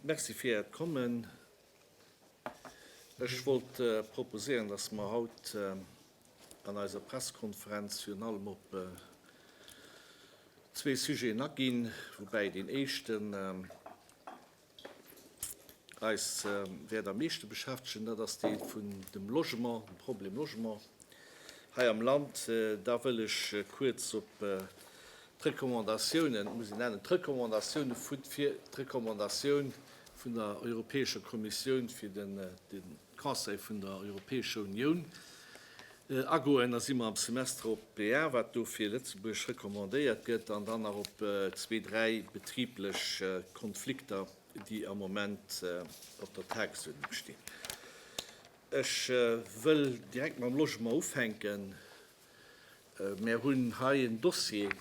Merci fir Äert Kommen. Ech wollt proposéieren, dass mer haut an eiser Pressekonferenz virun allem op zwee Sujeten aginn, woubäi deen éischten, eis wäert am meeschte beschäftegen, dat ass dee vun dem Logement, dem Problem Logement hei am Land. Da wëll ech kuerz op d'Recommandatiounen, et muss een nennen, d'Recommandatiounen vun, fir d'Recommandatioun vun der Europäescher Kommissioun fir den, Conseil vun der Europäescher Unioun agoen. Da si mer am Semester op d'PA, wat do fir Lëtzebuerg recommandéiert gëtt, an dann nach op zwee, dräi betriblech Konflikter, déi am Moment op der Tagesuerdnung stinn. Ech wëll direkt mam Logement ufänken. Mär hunn hei en Dossier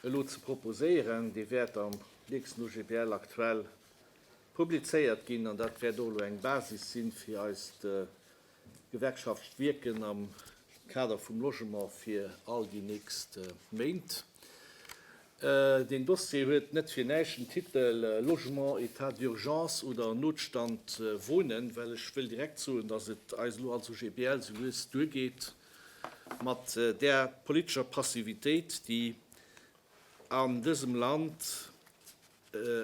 elo ze proposéieren, dee wäert am nächsten OGBL aktuell publizéiert ginn, an dat wäert och elo eng Basis si fir eist gewerkschaftlecht Wierken am Kader vum Logement fir all déi nächst Méint. Deen Dossier huet net fir näischt den Titel Logement, Etat d'urgence oder Notstand wonen, well ech wëll direkt soen, datt et eis elo als OGBL sou lues duergeet mat där politescher Passivitéit, déi an dësem Land,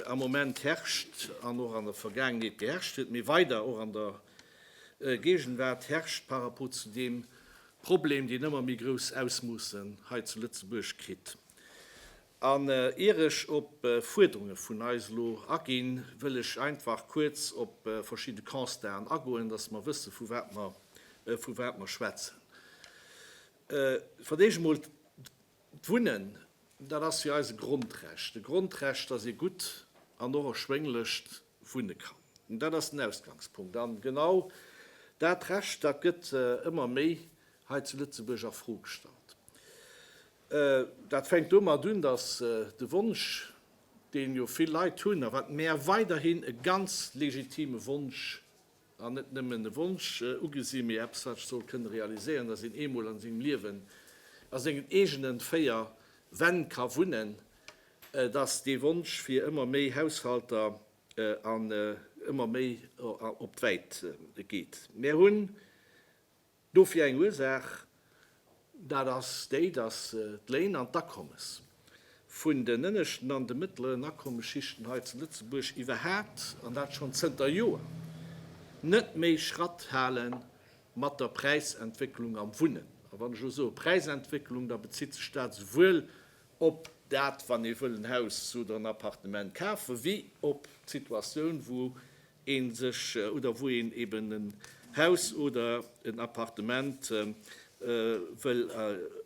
am Moment herrscht an och an der Vergaangenheet geherrscht huet, mee weider och an der Géigenwaart herrscht par rapport zu deem Problem, deen ëmmer méi grouss Ausmoossen hei zu Lëtzebuerg kritt. An ier ech op Fuerderunge vun eis elo aginn, wëll ech einfach kuerz op verschidde Constaten agoen, dass mer wësse vu wat mer schwätzen. Fir d'éischt emol D'Wunnen, dat ass fir eis e Grondrecht, e Grondrecht, dass ee gutt an och erschwénglecht wunne kann. Dat ass den Ausgangspunkt. A genau dat Recht, dat gëtt ëmmer méi hei zu Lëtzebuerg a Fro gestallt. Dat fänkt domat un, dass de Wonsch, deen jo vill Leit hunn a wat mäer weiderhin e ganz legitime Wonsch an net nëmmen e Wonsch ugesi mee eppes wat ech soll kënne realiséieren, dass een eemol an sengem Liewen a sengen eegenen véier Wänn ka wunnen, dass dee Wonsch fir ëmmer méi Haushalter an ëmmer méi op d'Wäit geet. Mär hunn. Dofir eng Ursaach, dat ass déi, datt d'Léin an d'Akommes vun den ënneschten an de mëttleren Akommesschichten hei zu Lëtzebuerg iwwerhaapt, an dat schonn zënter Joer, net méi Schratt hale mat der Präisentwécklung am Wunnen. A wann ech elo soe Präisentwécklung, da bezitt sech dat esouwuel op dat, wann ee wëll en Haus oder en Appartement kafen, wéi op d'Situatioun, wou een sech oder wou een eben en Haus oder en Appartement wëll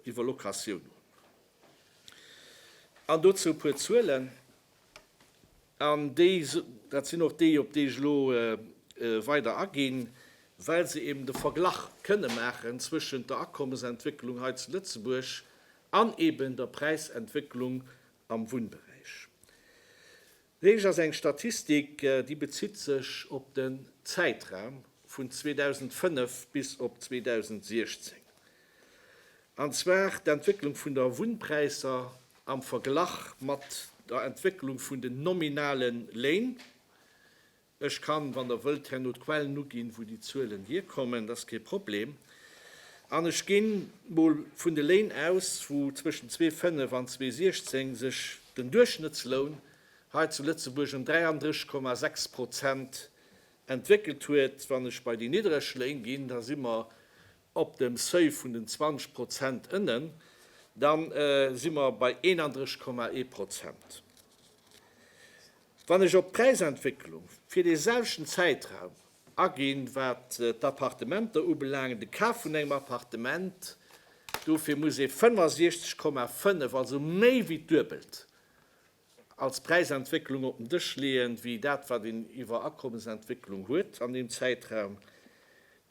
iwwer Locatioun hunn. An dozou e puer Zuelen, an déi, dat sinn och déi, op déi ech elo weider aginn, well se eben de Verglach kënne maachen zwëschent der Akommesentwécklung hei zu Lëtzebuerg an eben der Präisentwécklung am Wunnberäich. Lénks ass eng Statistik, déi bezitt sech op den Zäitraum vun 2005 bis op 2016, an zwar d'Entwécklung vun der Wunnpräisser am Verglach mat der Entwécklung vun den nominale Léin, Ech kann, wann Der wëllt, herno d'Quellen uginn, wou déi Zuelen hierkommen, dat ass kee Problem. An ech ginn mol vun de Léin aus, wou zwëschen 2005 an 2016 sech den Duerchschnëttsloun hei zu Lëtzebuerg ëm 33,6 Prozent entwéckelt huet. Wann ech bei déi niddereg Léin ginn, da si mer op dem Seuil vun den 20 Prozent ënnen, da si mer bei 31,1 Prozent. Wann ech op d'Präisentwécklung fir dee selwechten Zäitraum aginn, wat d'Appartementer ubelaangen, de Kaf vun engem Appartement, dofir muss ee 65,5, also méi wéi d'Duebelt, als Präisentwécklung op den Dësch leeën, wéi dat, wat een iwwer Akommesentwécklung huet an deem Zäitraum.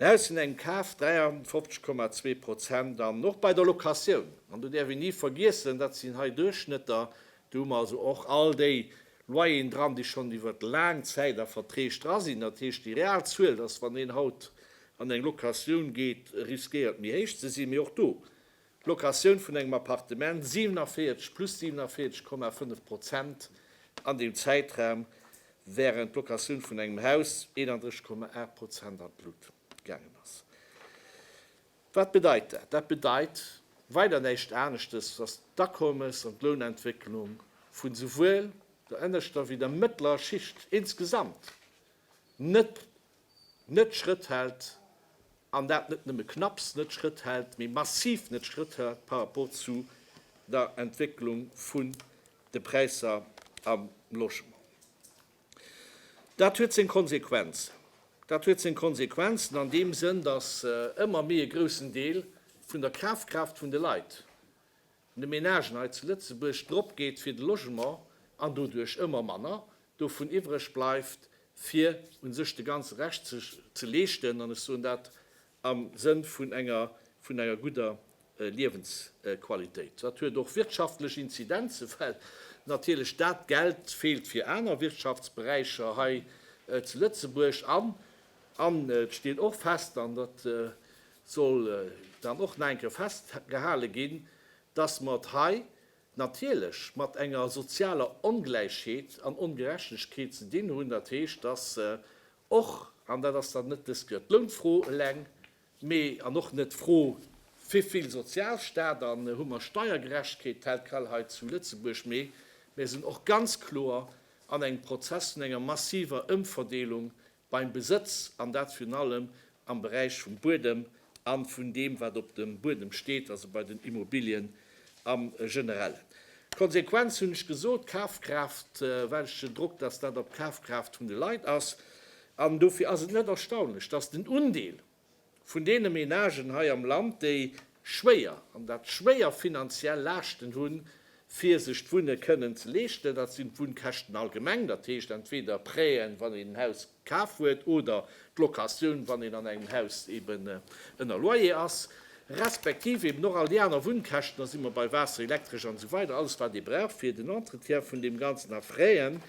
Mä aus vun engem Kaf 53,2 Prozent. An och bei der Locatioun, an do däerf een ni vergiessen, dat sinn hei Duerchschnëtter, Do hu mer also och all déi Loyeren dran, déi schonn iwwer laang Zäit a Verträg dra sinn. Dat heescht, déi real Zuel, dass, wann een haut an eng Locatioun geet, riskéiert méi héich ze sinn. Mee och do, d'Locatioun vun engem Appartement, 47, plus 47,5 Prozent an deem Zäitraum, wärend d'Locatioun vun engem Haus, 31,8 Prozent an d'Lut. gaangen ass. Wat bedeit dat? Dat bedeit weider näischt aneschtes, dass d'Akommes an d'Lounentwécklung vun souwuel der ënneschter wéi der mëttlerer Schicht insgesamt net net Schrëtt hält, an dat net nëmme knapps net Schrëtt hält, mee massiv net Schrëtt hält par rapport zu der Entwécklung vun de Präisser am Logement. Dat huet seng Konsequenz. Dat huet seng Konsequenzen an deem Sënn, datt ëmmer méi e groussen Deel vun der Kafkraaft vun de Leit, vun de Menagen hei zu Lëtzebuerg dropgeet fir de Logement an doduerch ëmmer manner dovun iwwereg bleift, fir u sech de ganze Rescht ze leeschten. An ech soen dat am Sënn vun enger gudder Liewensqualitéit. Dat huet och wirtschaftlech Inzidenzen, well natierlech dat Geld feelt fir aner Wirtschaftsberäicher hei zu Lëtzebuerg. An, an et steet och fest, an dat soll dann och nach eng Kéier festgehale ginn, dass mer et hei natierlech mat enger sozialer Ongläichheet an Ongerechtegkeet ze dinn hunn. Dat heescht, dass och, an dat ass dann net dës Kéier d'Lounfro eleng, Mee, an och net d'Fro, Wéivill Sozialstaat an hu mer Steiergerechtegkeet? Tel quel hei zu Lëtzebuerg. Mee mir sinn och ganz kloer an engem Prozess vun enger massiver Ëmverdeelung beim Besëtz, an dat virun allem am Beräich vum Buedem a vun deem, wat op dem Buedem steet, also bei den Immobilien. Am Generellen. D'Konsequenz hunn ech gesot, d'Kafkraaft, well ech den Drock, dass dat op d'Kafkraaft vun de Leit ass. An dofir ass et net erstaunlech, dass den Undeel vun deene Menagen hei am Land, déi schwéier, an dat schwéier, finanziell Laaschten hunn, fir sech d'Wunne kënnen ze leeschten, dat sinn d'Wunnkäschten allgemeng, dat heescht entweder Prêten, wann een en Haus kaf huet oder d'Locatioun, wann een an engem Haus eben ënner Loyer ass, respektiv eben och all déi aner Wunnkäschten, da si mer bei Waasser, Elektresch an esou weider, alles wat ee brauch fir den Entretien vun deem Ganzen, a Fräen,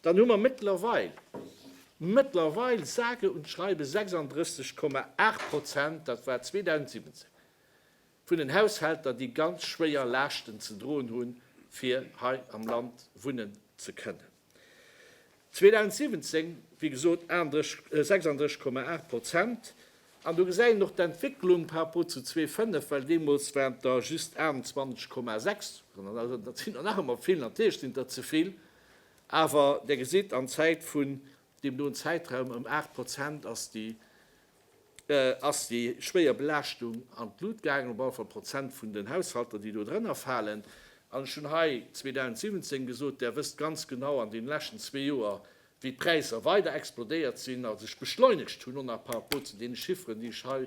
dann hu mer méttlerweil, méttlerweil sage und schreibe 36,8 Prozent, dat war 2017, Vun den Haushälter, déi ganz schwéier Laaschten ze droen hunn, fir hei am Land wunnen ze kënnen. 2017, wéi gesot, 36,8 Prozent. An do gesäit een och d'Entwécklung par rapport zu 2005, well deemools waren der just 28,6. Also dat sinn der nach ëmmer vill, natierlech sinn der ze vill, awer Der gesitt, an Zäit vun deem doen Zäitraum ëm 8 Prozent ass déi ass déi schwéier Belaaschtung an d'Lut gaangen, op alle Fall Prozent vun den Haushalter, déi do drënner falen. An ech hunn hei 2017 gesot, Där wësst ganz genau an deene leschten zwee Joer, wéi d'Präisser weider explodéiert sinn a sech beschleunegt hunn, och nach par rapport zu deene Chiffren, déi ech hei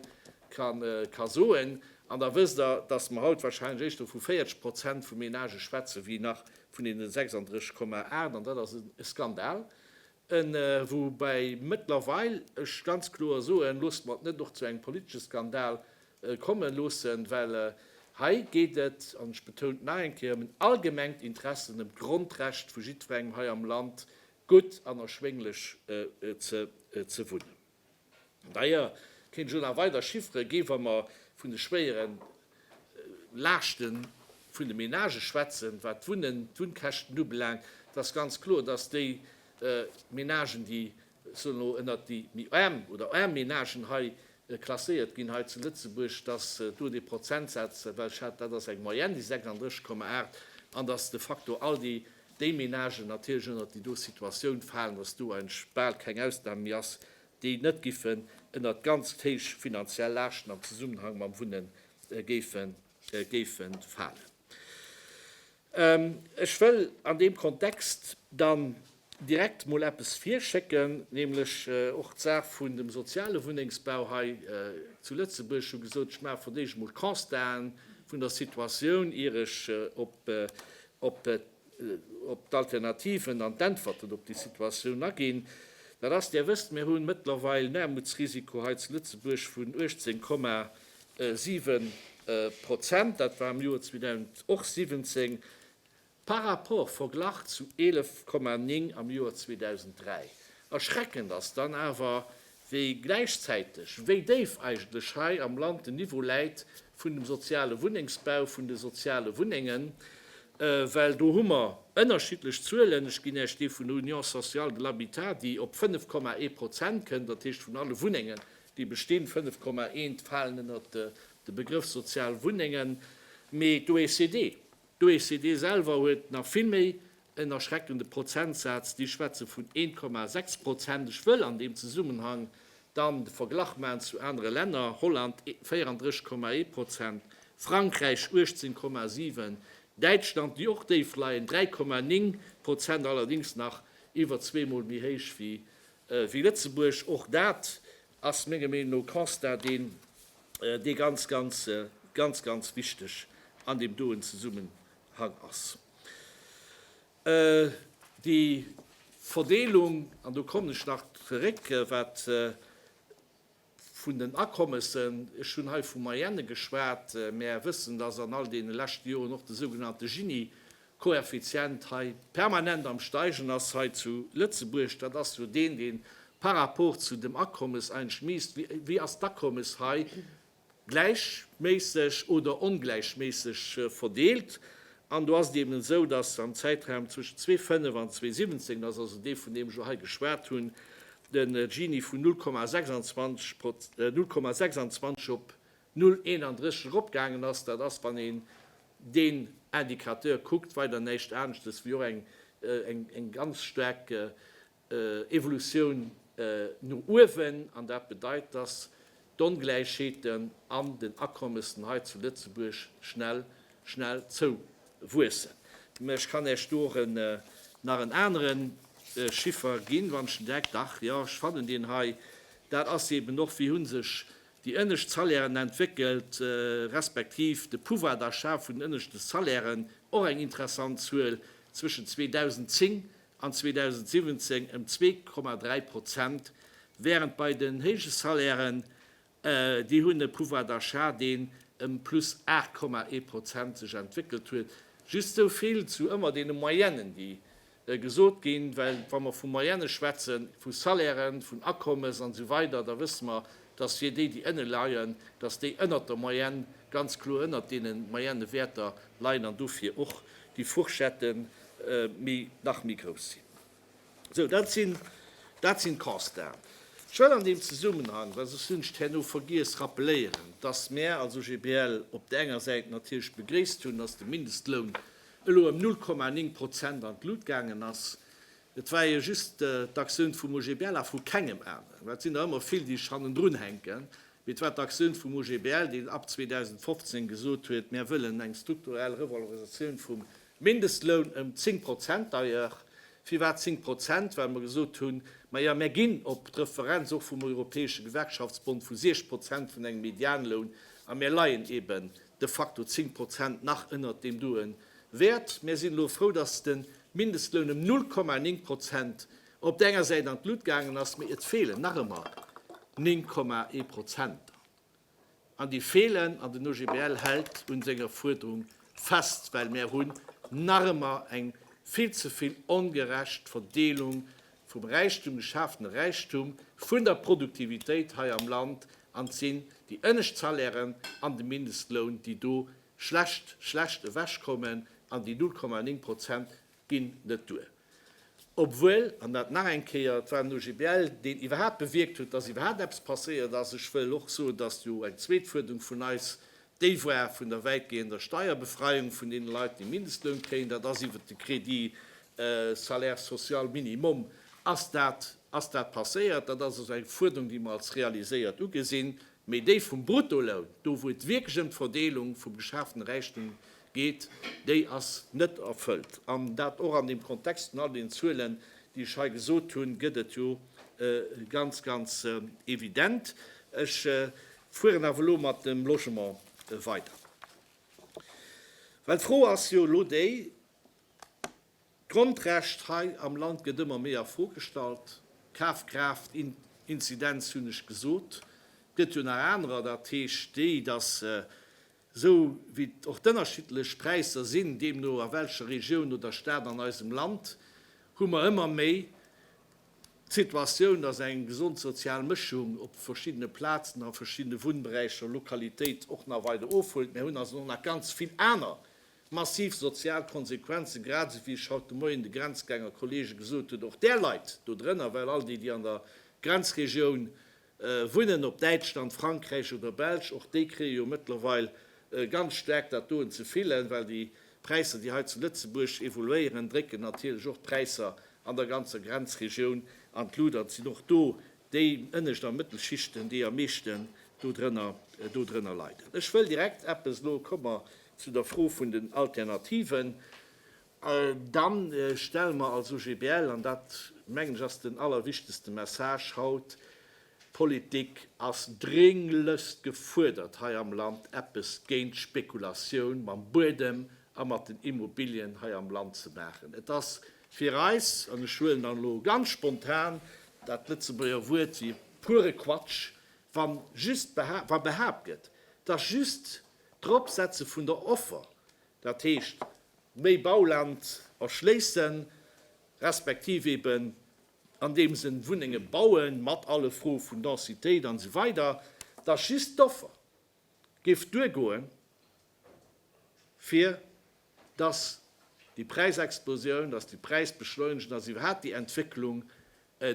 ka soen. An da wësst Der, dass mer haut warscheinlech éischter vu 40 Prozent vu Menagë schwätzen, wéi nach vun deene 36,8. An dat ass e Skandal, Woubäi mëttlerweil ech ganz kloer soen, loosst mer et net och zu engem politesche Skandal komme loossen, well hei geet et, an ech betoun et nach eng Kéier, ëm en allgemengt Interesse, ëm d'Grondrecht vu jiddwerengem hei am Land, gutt an erschwénglech ze wunnen. D'ailleurs kéint ech elo nach weider Chiffere ginn, wa mer vun de schwéiere Laaschte vun de Menagë schwätzen, wat d'Wunnen, d'Wunnkäschten ubelaangt. Et ass ganz kloer, dass déi Menagen, déi, ech soen elo, ënnert déi méi aarm oder aarm Menagen hei klasséiert ginn hei zu Lëtzebuerg, dass do dee Prozentsaz, well ech hat, dat ass eng Moyenne, déi 36,8, an dass de facto all déi déi Menagen natierlech ënnert déi do Situatioun falen, dass do eigentlech bal keng Ausnam méi ass, déi net giffen ënnert ganz héich finanziell Laaschten am Zesummenhang mam Wunne géife falen. Ech wëll an deem Kontext dann direkt emol eppes virschécken, nämlech och d'Saach vun dem soziale Wunnengsbau hei zu Lëtzebuerg. Ech hu gesot, ech maache verdéischt emol Constaten vun der Situatioun, ier ech op op d'Alternativen an d'Äntwerten op déi Situatioun aginn, dat ass, Dir wësst, mir hu mëttlerweil en Aarmutsrisiko hei zu Lëtzebuerg vun 18,7 Prozent, dat war am Joer 2000 och 17, par rapport, verglach, zu 11,9 am Joer 2003. Erschreckend ass dann awer, wéi gläichzäiteg, wéi déif eigentlech hei am Land den Niveau läit vun dem soziale Wunnengsbau, vun de soziale Wunnengen, well do hu mer ënnerschiddlech Zuelen. Ech ginn Iech déi vun der Union sociale de l'habitat, déi op 5,1 Prozent kënn, dat heescht vun alle Wunnengen, déi bestinn, 5,1 falen ënnert de Begrëff sozial Wunnengen. Mee d'OECD, d'OECD selwer huet nach vill méi En erschreckende Prozentsaz, déi schwätze vun 1,6 Prozent. Ech wëll an deem Zesummenhang dann de Verglach maachen zu anere Länner, Holland 34,1 Prozent, Frankräich 18,7, Däitschland, déi och déif leien, 3,9 Prozent, allerdéngs nach iwwer zweemol méi héich wéi Lëtzebuerg. Och dat ass menger Meenung no e Constat, deen ganz, ganz, ganz, ganz wichteg an deem doen Zesummenhang ass. Déi Verdeelung, an do kommen ech nach zeréck, wat vun den Akommessen, ech hunn hei vu Moyenne geschwat, mä Är wëssen, dass an all deene leschte Joren och de sougenannte Gini-Koeffizient hei permanent am steigen ass hei zu Lëtzebuerg, dat ass jo deen, dee par rapport zu dem Akommes eigentlech misst, wéi ass d'Akommes hei gläichméisseg oder ongläichméisseg verdeelt. An do ass et eben esou, datt am Zäitraum zwëschen 2005 an 2017, dat ass also dee vun deem ech elo hei geschwat hunn, de Gini vun 0,26 op 0,31 eropgaangen ass. Dat ass, wann een deen Indicateur kuckt, weider näischt aneschtes wéi och eng ganz staark Evolutioun no uewen, an dat bedeit, dass d'Ongläichheeten an den Akommessen hei zu Lëtzebuerg schnell, schnell zouwuessen. Mä ech kann Iech do nach en anere Chiffer ginn, wann ech den Deck, dach jo, ech fannen deen hei, dat ass eeben och, wéi hu sech déi ënnescht Salairen entwéckelt, respektiv de Pouvoir d'achat vun den ënneschte Salairen, och eng interessant Zuel, zwëschen 2010 an 2017 ëm 2,3 Prozent, wärend bei den héije Salairen, déi hunn e Pouvoir d'achat, deen ëm plus 8,1 Prozent sech entwéckelt huet. Just esou vill zu ëmmer deene Moyennë, déi gesot ginn, well wa mer vu Moyenne schwätzen, vu Salairen, vun Akommes an esou weider, da wësse mer, dass fir déi, déi ënne leien, dass déi ënnert der Moyenne, ganz kloer ënnert deene Moyennewäerter leien an dofir och déi Fourchette méi nach méi grouss sinn. Sou dat sinn dat sinn d'Constaten. Ech wëll an deem Zesummenhang, well soss hunn ech et herno vergiess, rappeléieren, datt mär als OGBL op där enger Säit natierlech begréisst hunn, datt de Mindestloun elo ëm 0,9 Prozent an d'Lut gaangen ass. Et war jo just d'Aktioun vum OGBL a vu kengem aneren. Mä et sinn der ëmmer vill, déi sech hannendrun hänken. Mee et war d'Aktioun vum OGBL, deen ab 2015 gesot huet, Mär wëllen eng strukturell Revalorisatioun vum Mindestloun ëm zéng Prozent. D'ailleurs, firwat zéng Prozent? Well mer gesot hunn, Maja, mär ginn op d'Referenz och vum Europäesche Gewerkschaftsbond vu siech Prozent vun engem Medianloun a mär leien eeben de facto zéng Prozent nach ënnert deem doe Wäert. Mir sinn elo frou, dass de Mindestloun ëm 0,9 Prozent op där enger Säit an d'Lut gaangen ass, mee et feelen nach ëmmer 9,1 Prozenter. An déi feelen, an den OGBL hält un senger Fuerderung fest, well mär hunn nach ëmmer eng vill ze vill ongerecht Verdeelung vum Räichtum, geschafene Räichtum, vun der Produktivitéit hei am Land, an et sinn déi ënnescht Salairen an de Mindestloun, déi do schlecht schlecht ewech kommen an déi 0,9 Prozent ginn net duer. Obwuel, an dat nach eng Kéier, et war den OGBL, deen iwwerhaapt bewierkt huet, datt iwwerhaapt eppes passéiert ass. Ech wëll och soen, datt jo eng zweet Fuerderung vun eis déi war vun der wäitgehender Steierbefreiung vun deene Leit, déi Mindestloun kréien. Dat ass iwwert de Crédit salaire social minimum ass dat ass dat passéiert. Dat ass also eng Fuerderung, déi mer als realiséiert ugesinn. Mee déi vum Bruttoloun, do wou et wierklech ëm d'Verdeelung vum geschaaften Räichtum geet, déi ass net erfëllt. An dat och an deem Kontext vun all deenen Zuelen, déi ech hei gesot hunn, gëtt et jo ganz, ganz evident. Ech fueren awer elo mat dem Logement weider. Well d'Fro ass jo elo déi, D'Grondrecht hei am Land gëtt ëmmer méi a Fro gestallt. Kafkraaft, Inzidenz hunn ech gesot. Et gëtt jo nach anerer, dat heescht déi, datt esou wéi och d'ënnerschiddlech Präisser sinn, deemno a welcher Regioun oder Stad an eisem Land, hu mer ëmmer méi d'Situatioun, datt eng gesond sozial Mëschung op verschiddene Plazen, a verschiddene Wunnberäicher, Lokalitéit och nach weider ofhuelt. Mir hunn also och nach ganz vill aner Massiv sozial Konsequenzen, grad esou wéi ech haut de Moien de Grenzgänger-Kollege gesot hunn, och där Leit do drënner, well all déi, déi an der Grenzregioun wunnen, ob Däitschland, Frankräich oder Belsch, och déi kréie jo mëttlerweil ganz staark dat doen ze fillen, well déi Präisser, déi hei zu Lëtzebuerg evoluéieren, drécken natierlech och d'Präisser an der ganzer Grenzregioun an d'Lut an sinn och do Déi ënnescht a mëttel Schichten, déi am meeschten dodrënner leiden. Ech wëll direkt eppes, elo komme mer zu der Fro vun den Alternativen, da stelle mer als OGBL, an dat mengen ech ass den allerwichtegste Message haut, d'Politik ass drénglechst gefuerdert hei am Land, eppes géint d'Spekulatioun mam Buedem a mat den Immobilien hei am Land ze maachen. Et ass Fir eis, an ech huelen dann elo ganz spontan dat Lëtzebuerger Wuert wéi puere Quatsch, wa just wa behaapt gëtt, dass just d'Eropsetze vun der Offer, dat heescht méi Bauland erschléisse respektiv eben an deem Sënn Wunnenge baue mat alle Froe vun Densitéit an esou weider, dass just d'Offer, géif duergoen, fir dass déi Präisexplosioun, dass déi Präisbeschleunigung, dass iwwerhaapt déi Entwécklung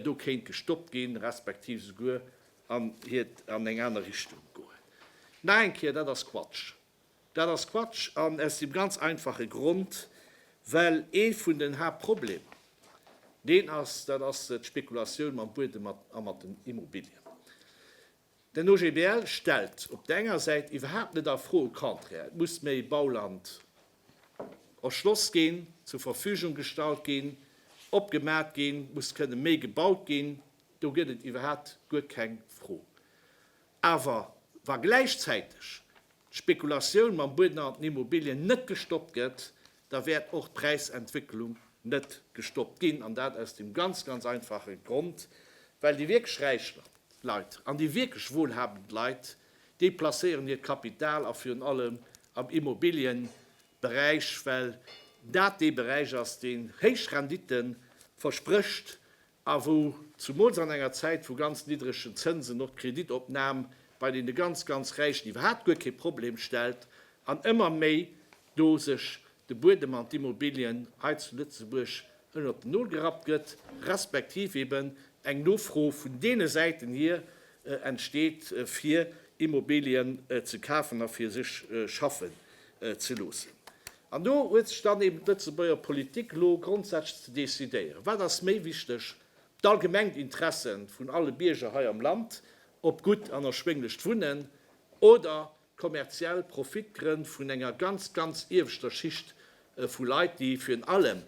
do kéint gestoppt ginn, respektiv souguer an hiert, an eng aner Richtung goen. Nach eng Kéier, dat ass Quatsch. Dat ass Quatsch, an aus deem ganz einfache Grond, well ee vun den Haaptproblemer deen ass, dat ass d'Spekulatioun mam Buedem a mat den Immobilien. Den OGBL stellt op der enger Säit iwwerhaapt net a Fro, au contraire, et muss méi Bauland erschloss ginn, zur Verfügung gestallt ginn, opgemaat ginn, muss kënne méi gebaut ginn, do gëtt et iwwerhaapt guer keng Fro. Awer wa gläichzäiteg d'Spekulatioun mam Bueden an den Immobilien net gestoppt gëtt, da wäert och d'Präisentwécklung net gestoppt ginn, an dat aus deem ganz, ganz einfache Grond, well déi wierklech räich Leit an déi wierklech wohlhabend Leit, déi placéieren hiert Kapital a virun allem am Immobilienberäich, well dat dee Beräich ass, deen héich Rendite versprécht a wou zumools an enger Zäit vu ganz niddregen Zënsen och d'Kreditopnam bei deene ganz, ganz Räichen iwwerhaapt guer kee Problem stellt an ëmmer méi do sech de Buedem an d'Immobilien hei zu Lëtzebuerg ënnert den Nol gerappt gëtt, respektiv eben eng Nofro vun deene Säiten hier entsteet, fir Immobilien ze kafen a fir sech schaffen ze loossen. An do huet sech dann eben d'Lëtzebuerger Politik elo grondsätzlech ze decidéieren, Wat ass méi wichteg, d'allgemengt Interesse vun alle Bierger hei am Land op gutt an erschwénglecht Wunnen oder kommerziell Profitgrënn vun enger ganz, ganz ieweschter Schicht vu Leit, déi virun allem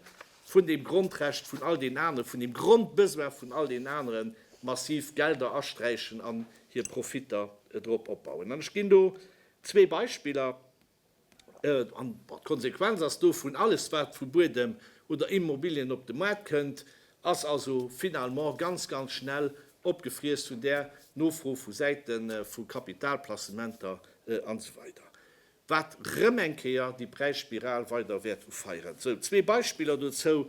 vun deem Grondrecht vun all deenen aneren, vun deem Grondbesoin vun all deenen aneren massiv Gelder asträichen an hir Profitter drop opbauen? An ech ginn do zwee Beispiller. An d'Konsequenz ass dovun, alles wat vu Buedem oder Immobilien op de Maart kënnt, ass also finalement ganz, ganz schnell opgefriess vun där Nofro vu Säite vu Kapitalplacementer an esou weider, wat rëm eng Kéier déi Präisspiral weider wäert ufeieren. Esou zwee Beispiller dozou,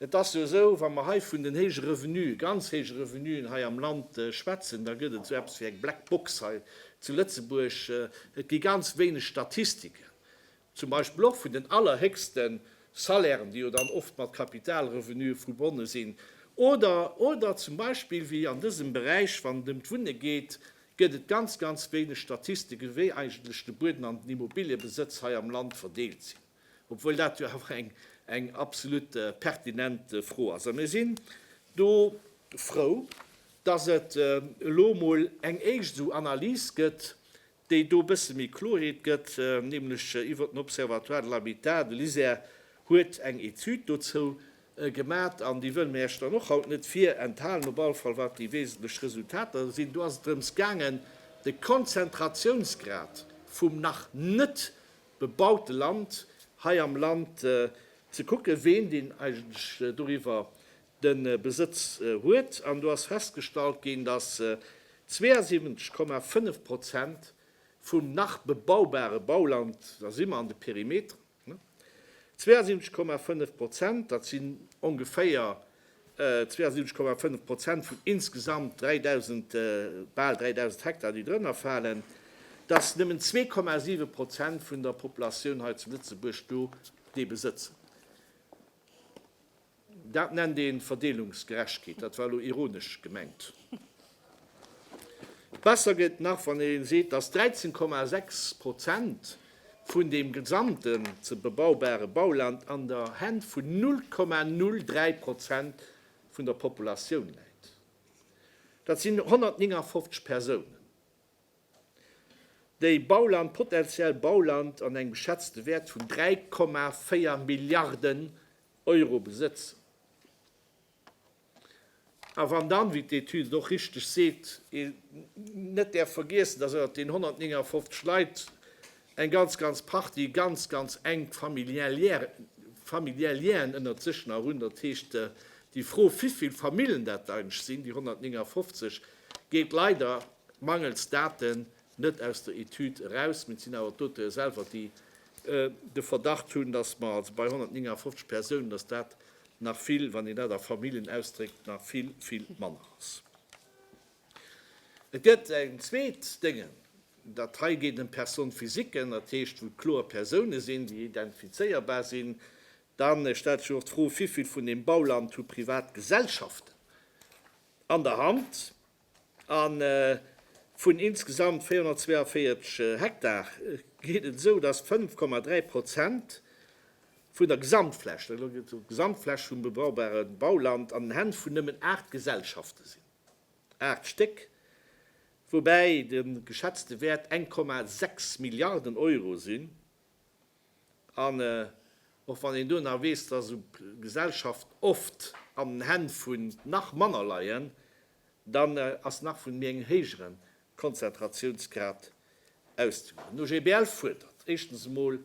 Et ass jo esou, wa mer hei vun den héije Revenue, ganz héije Revenuen hei am Land schwätzen, da gëtt et esou eppes wéi eng Black Box hei zu Lëtzebuerg. Et gi ganz wéineg Statistiken, zum Beispill och vun den allerhéchste Salairen, déi jo dann oft mat Kapitalrevenue verbonne sinn, oder, oder zum Beispill wéi an dësem Beräich, wann et ëm d'Wunne geet, gëtt et ganz, ganz wéineg Statistike wéi eigentlech de Bueden an den Immobiliëbesëtz hei am Land verdeelt sinn. obwuel dat jo awer eng absolut pertinent Fro ass. A mir sinn do frou, dass et elo emol eng éischt esou Analys gëtt, déi do e bësse méi Kloheet gëtt, nämlech iwwer den Observatoire de l'habitat. De LISER huet eng Etüd dozou gemat an déi wëlle mir Iech dann och haut net virenthalen, op alle Fall wat déi wesentlech Resultater sinn. Do ass et drëms gaangen, de Konzentratiounsgrad vum nach net bebaute Land hei am Land ze kucken, ween deen eigentlech doriwwer de Besëtz huet. An do ass festgestallt ginn, dass 72,5 Prozent vum nach bebaubare Bauland, da si mer an de Perimeteren, 72,5 Prozent, dat sinn ongeféier 72,5 Prozent vun insgesamt 3.000, bal 3.000 Hektar, déi drënner falen, dass nëmmen 2,7 Prozent vun der Populatioun hei zu Lëtzebuerg do dee besëtzen. Dat nennt ee Verdeelungsgerechkeet. Dat war elo ironesch gemengt. Besser gëtt et nach, wann ee seet, dass 13,6 Prozent vun deem gesamten ze bebaubare Bauland an der Hänn vun 0,03 Prozent vun der Populatioun läit. Dat sinn 159 Persounen, déi Bauland, potenziell Bauland an engem geschätzte Wäert vun 3,4 Milliarden Euro besëtzen. A wann dann, wéi d'Etüd et och richteg seet, een net däerf vergiessen, dass ënnert den 159 Leit eng ganz, ganz Partie ganz, ganz enk familiär Lienen ënnert sech nach hunn, dat heescht, déi Fro, wivill Famillen dat eigentlech sinn, déi 159, geet leider mangels Daten net aus der Etüd eraus. Mir sinn awer d'Auteure selwer, déi de Verdacht hunn, dass mer also bei 159 Persounen, dass dat nach vill, wann een dat a Famillen ausdréckt, nach vill, vill manner ass. Et gëtt eng zweet Dënge, dat hei geet ëm Personnes physiquen, dat heescht, wou kloer Persounen sinn, déi identifizéierbar sinn. Da stellt sech och d'Fro, Wéivill vun deem Bauland hu Privatgesellschaften an der Hand? A vun insgesamt 442 Hektar geet et esou, datt 5,3 Prozent vun der Gesamtfläch, elo geet et ëm d'Gesamtfläch vum bebaubare Bauland, an den Hänn vun nëmmen aacht Gesellschafte sinn. Aacht Stéck. Woubäi de geschätzte Wäert eng Komma sechs Milliarden Euro sinn. An och wann een do nach weess, dass esou Gesellschaften oft an den Hänn vun nach manner leien, dann ass nach vun mir en héijere Konzentratiounsgrad auszegoen. Den OGBL fuerdert éischtens emol,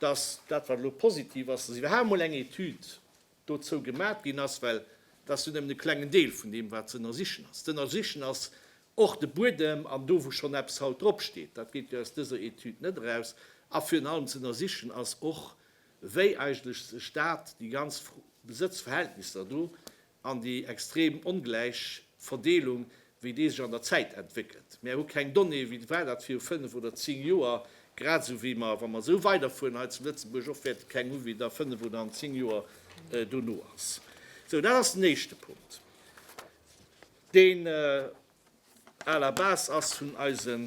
dass dat wat elo positiv ass, dass iwwerhaapt emol eng Etüd dozou gemat ginn ass, well dat ass jo nëmmen e klengen Deel vun deem, wat z'ënnersichen ass. Z'ënnersichen ass och de Buedem an do, wou schonn eppes haut drop steet, dat geet jo aus dëser Etüd net eraus, a virun allem z'ënnersichen ass och, wéi eigentlech sech dat, déi ganz Besëtzverhältnisser do an déi extrem ongläich Verdeelung wéi dee sech an der Zäit entwéckelt. Mär hu keng Donnéeë wéi war dat viru fënnef oder zéng Joer, grad esou wéi mer, wa mer esou weiderfueren hei zu Lëtzebuerg, och wäerte keng hu wéi der fënnef oder an zéng Joer dono ass. Sou, dat ass den éischte Punkt, deen à la base ass vun eise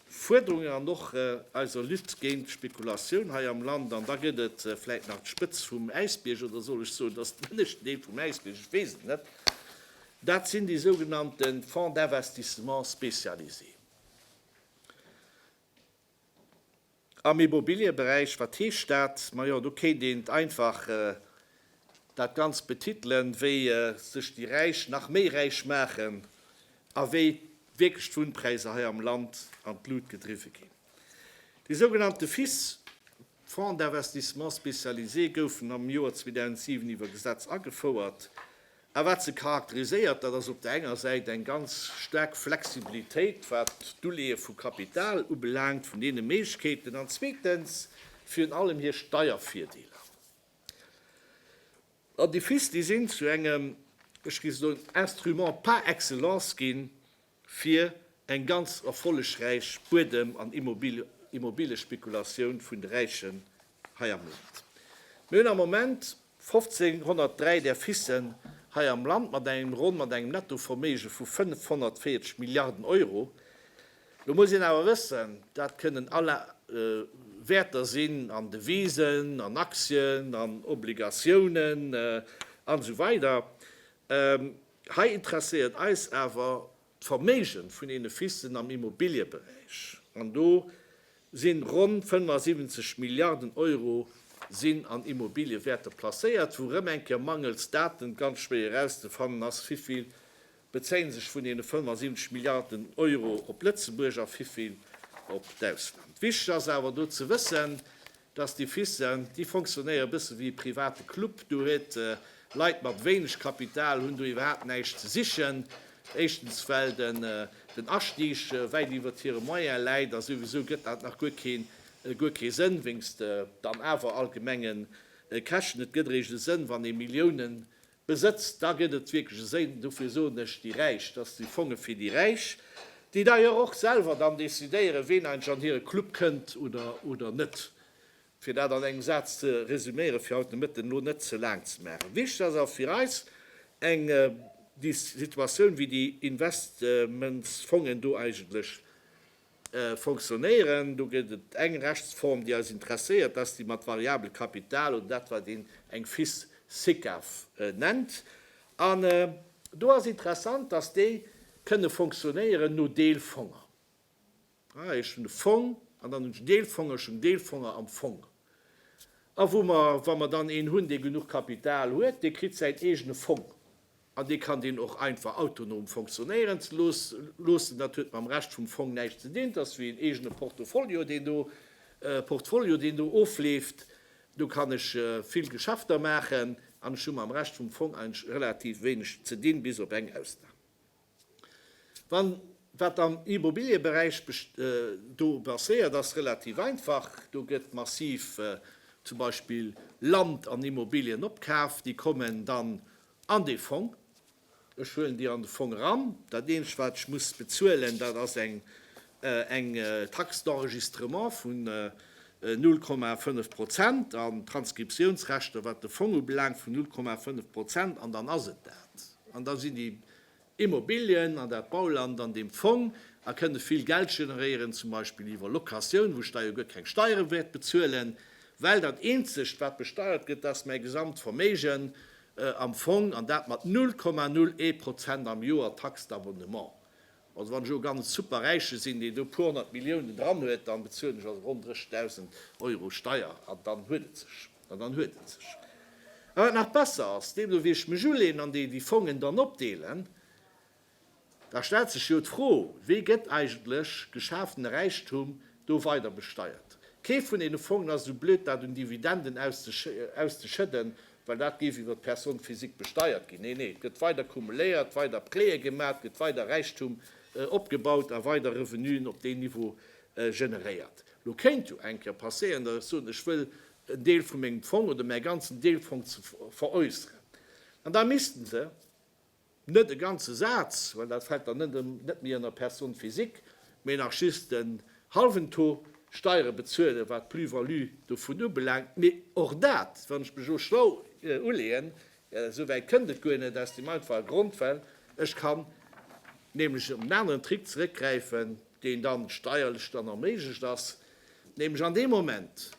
Fuerderungen an och eiser Lutte géint d'Spekulatioun hei am Land. An da gëtt et vläicht nach d'Spëtz vum Äisbierg, oder soll ech soen, dat ass den ënneschten Deel vum Äisbierg, ech weess et net, Dat sinn déi sougenannte Fonds d'investissement spécialisés am Immobiliëberäich. Wat heescht dat? Majo, do kéint een et einfach dat Ganzt betitelen, wéi sech déi Räich nach méi räich maachen a wéi wierklech d'Wunnpräisser hei am Land an d'Lut gedriwwe ginn. Déi sougenannte FIS, Fonds d'investissement spécialisés, goufen am Joer 2007 iwwer Gesetz agefouert. A wat se charakteriséiert, dat ass op der enger Säit eng ganz staark Flexibilitéit, wat d'Uleeë vu Kapital ubelaangt, vun deene Méiglechkeeten, an zweetens virun allem hir Steiervirdeeler. An déi FIS, déi sinn zu engem, ech géif soen, Instrument par excellence ginn, fir eng ganz erfollegräich Buedem an Immobiliespekulatioun vun de Räichen hei am Land. Mir hunn am Moment 1503 där Fissen hei am Land mat engem ronn mat engem Nettoverméige vu 540 Milliarden Euro. Lo muss een awer wëssen, dat kënnen all Wäerter sinn an Devisen, an Aktien, an Obligatiounen an esou weider. Hei interesséiert eis awer d'Verméigen vun deene Fissen am Immobilieberäich, an do sinn ronn 75 Milliarden Euro sinn an Immobiliewäerter placéiert, wou erëm eng Kéier mangels Daten ganz schwéier erauszefannen ass, wivill bezéie sech vun deene 75 Milliarden Euro op Lëtzebuerg a wivill op d'Ausland. Wichteg ass awer do ze wëssen, Dass déi Fissent, déi fonctionnéiere bësse wéi e private Club. Do huet Leit mat wéineg Kapital hunn do iwwerhaapt näischt ze sichen. Éischtens well den Astieg wäit iwwert hire Moyen läit a souwisou gëtt dat nach guer keen guer kee Sënn, wéinst dann awer allgemengen Käschten. Et gëtt eréischt e Sënn, wann ee Milliounen Besëtzt, da gëtt et wierklech e Séin. Dofir soen ech, déi Räich, dass déi Fonge fir déi Räich, déi d'ailleurs och selwer dann decidéieren, ween eigentlech an hire Club kënnt oder net, fir dat an engem Saz ze resümieren, fir haut de Mëtten elo net ze laang ze maachen. Wichtig ass awer fir eis, eng Situatioun wéi déi Investmentsfongen do eigentlech Fonctionnéieren. Do gëtt et eng Rechtsform, déi eis interesséiert, dat ass déi mat variabel Kapital oder dat, wat een eng fils SICAV nennt. An do ass interessant, dass déi kënne fonctionnéieren no Deelfonger. Ech hunn e Fong an dann hunn ech Deelfonger, ech hunn Deelfonger am Fong. A wou mer, wa mer dann een hunn, dee genuch Kapital huet, dee kritt säin eegene Fong. An dee kann deen och einfach autonom fonctionnéieren ze loossen. Dat huet mam Rescht vum Fong näischt ze dinn. Et ass wéi een eegene Portofolio, deen do, Portfolio, deen do ofleeft. Do kann ech vill Geschäfter maachen an ech hu mam Rescht vum Fong eigentlech relativ wéineg ze dinn, bis op eng Ausnam. Wann wat am Immobilieberäich do passéiert, ass relativ einfach. Do gëtt massiv zum Beispill Land an Immobilien opkaaft. Déi kommen dann An dee Fong, ech huelen déi an de Fong eran, dat eenzegt, wat ech muss bezuelen, dat ass eng Taxe d'enregistrement vun null Komma fënnef Prozent an Transkriptiounsrechter, wat de Fong ubelaangt, vun null Komma fënnef Prozent. An dann ass et dat. An da sinn déi Immobilien an dat Bauland an deem Fong a kënne vill Geld generéieren, zum Beispill iwwer Locatioun, wou Steier guer keng Steiere wäert bezuelen, well dat eenzegt, wat besteiert gëtt, dat ass mäi gesamt Verméigen am Fong, an dat mat null Komma null ee Prozent am Joer Taxe d'abonnement. Also wann ech elo ganz e Superräiche sinn, deen do puer honnert Milliounen dran huet, dann bezuelen ech also ronn 30.000 Euro Steier an dann huet et sech. An dann huet et sech. A wat nach besser ass, deem do wéi ech mech uleen an déi déi Fongen dann opdeelen, da stellt sech jo d'Fro, Wéi gëtt eigentlech geschafene Räichtum do weider besteiert? Kee vun deene Fongen ass esou blöd dat un Dividenden auszeschëdden, well dat géif iwwer d'Personne physique besteiert ginn. Nee, nee, et gëtt weider kumuléiert, weider Präe gemaach, et gëtt weider Räichtum opgebaut a weider Revenuen op deen Niveau generéiert. Lo kéint jo eng Kéier passéieren, datt ech soen, ech wëll en Deel vu mengem Fong oder mäi ganzen Deel Fong ze veräusseren. An da missten se net e ganze Saz, well dat fält dann net méi ënner Personne physique, mee nach just en hallwen Taux Steiere bezuelen, wat d'Plus-value dovun ubelaangt. Mee och dat, wann ech mech elo schlau uleeën, Esou wäit kënnt et guer net, aus dem einfache Grond, well ech kann nämlech op en aneren Trick zeréckgräifen, deen dann steierlech dann erméiglecht ass, nämlech an deem Moment,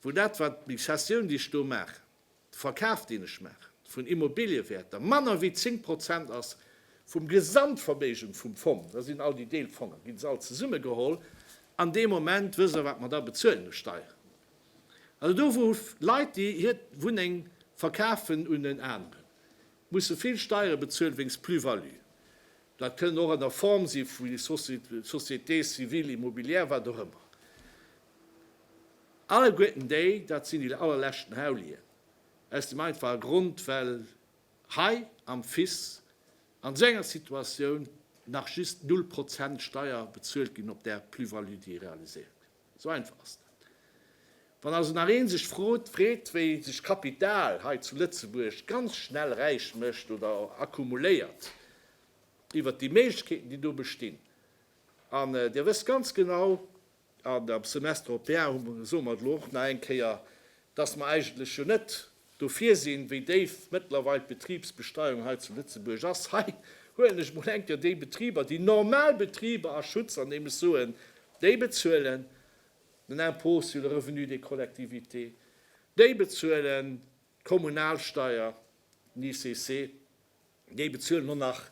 wou dat, wat déi Cessioun, déi ech do maachen, de Verkaf, deen ech maachen vun Immobiliëwärter, manner wéi 10 Prozent ass vum Gesamtverméigen vum Fong, da sinn all déi Deelfonger, ginn se all zesummegeholl, an deem Moment, wësst Der, wat mer da bezuelen u Steieren? Also do wou Leit déi hir Wunneng verkafen un en aneren, musse vill Steiere bezuelen wéinst Plus-value. Dat kënnen och an der Form si vu Société civile immobilière, wat och ëmmer. Alleguerten déi, dat sinn déi allerleschten Haulien, aus dem einfache Grond well hei am Fis an esou enger Situatioun nach just null Prozent Steier bezuelt ginn op där Plus-value déi realiséiert gëtt. Sou einfach ass dat. Wann also nach ee sech frot, freet, wéi sech Kapital hei zu Lëtzebuerg ganz schnell räich mécht oder accumuléiert, iwwert déi Méiglechkeeten, déi do bestinn, an Dir wësst ganz genau, an am Semestre européen hu mer, soe mer et elo och nach eng Kéier, dass mer eigentlech jo net Dofir sinn, wéi déif mëttlerweil d'Betribsbesteuerung hei zu Lëtzebuerg ass, hei huelen ech mol enker déi Betriber, déi normal Betriber a Schutz, an deem ech soen, déi bezuelen den Impôt sur le revenu des collectivités, déi bezuelen d'Kommunalsteier, den ICC, Déi bezuelen och nach,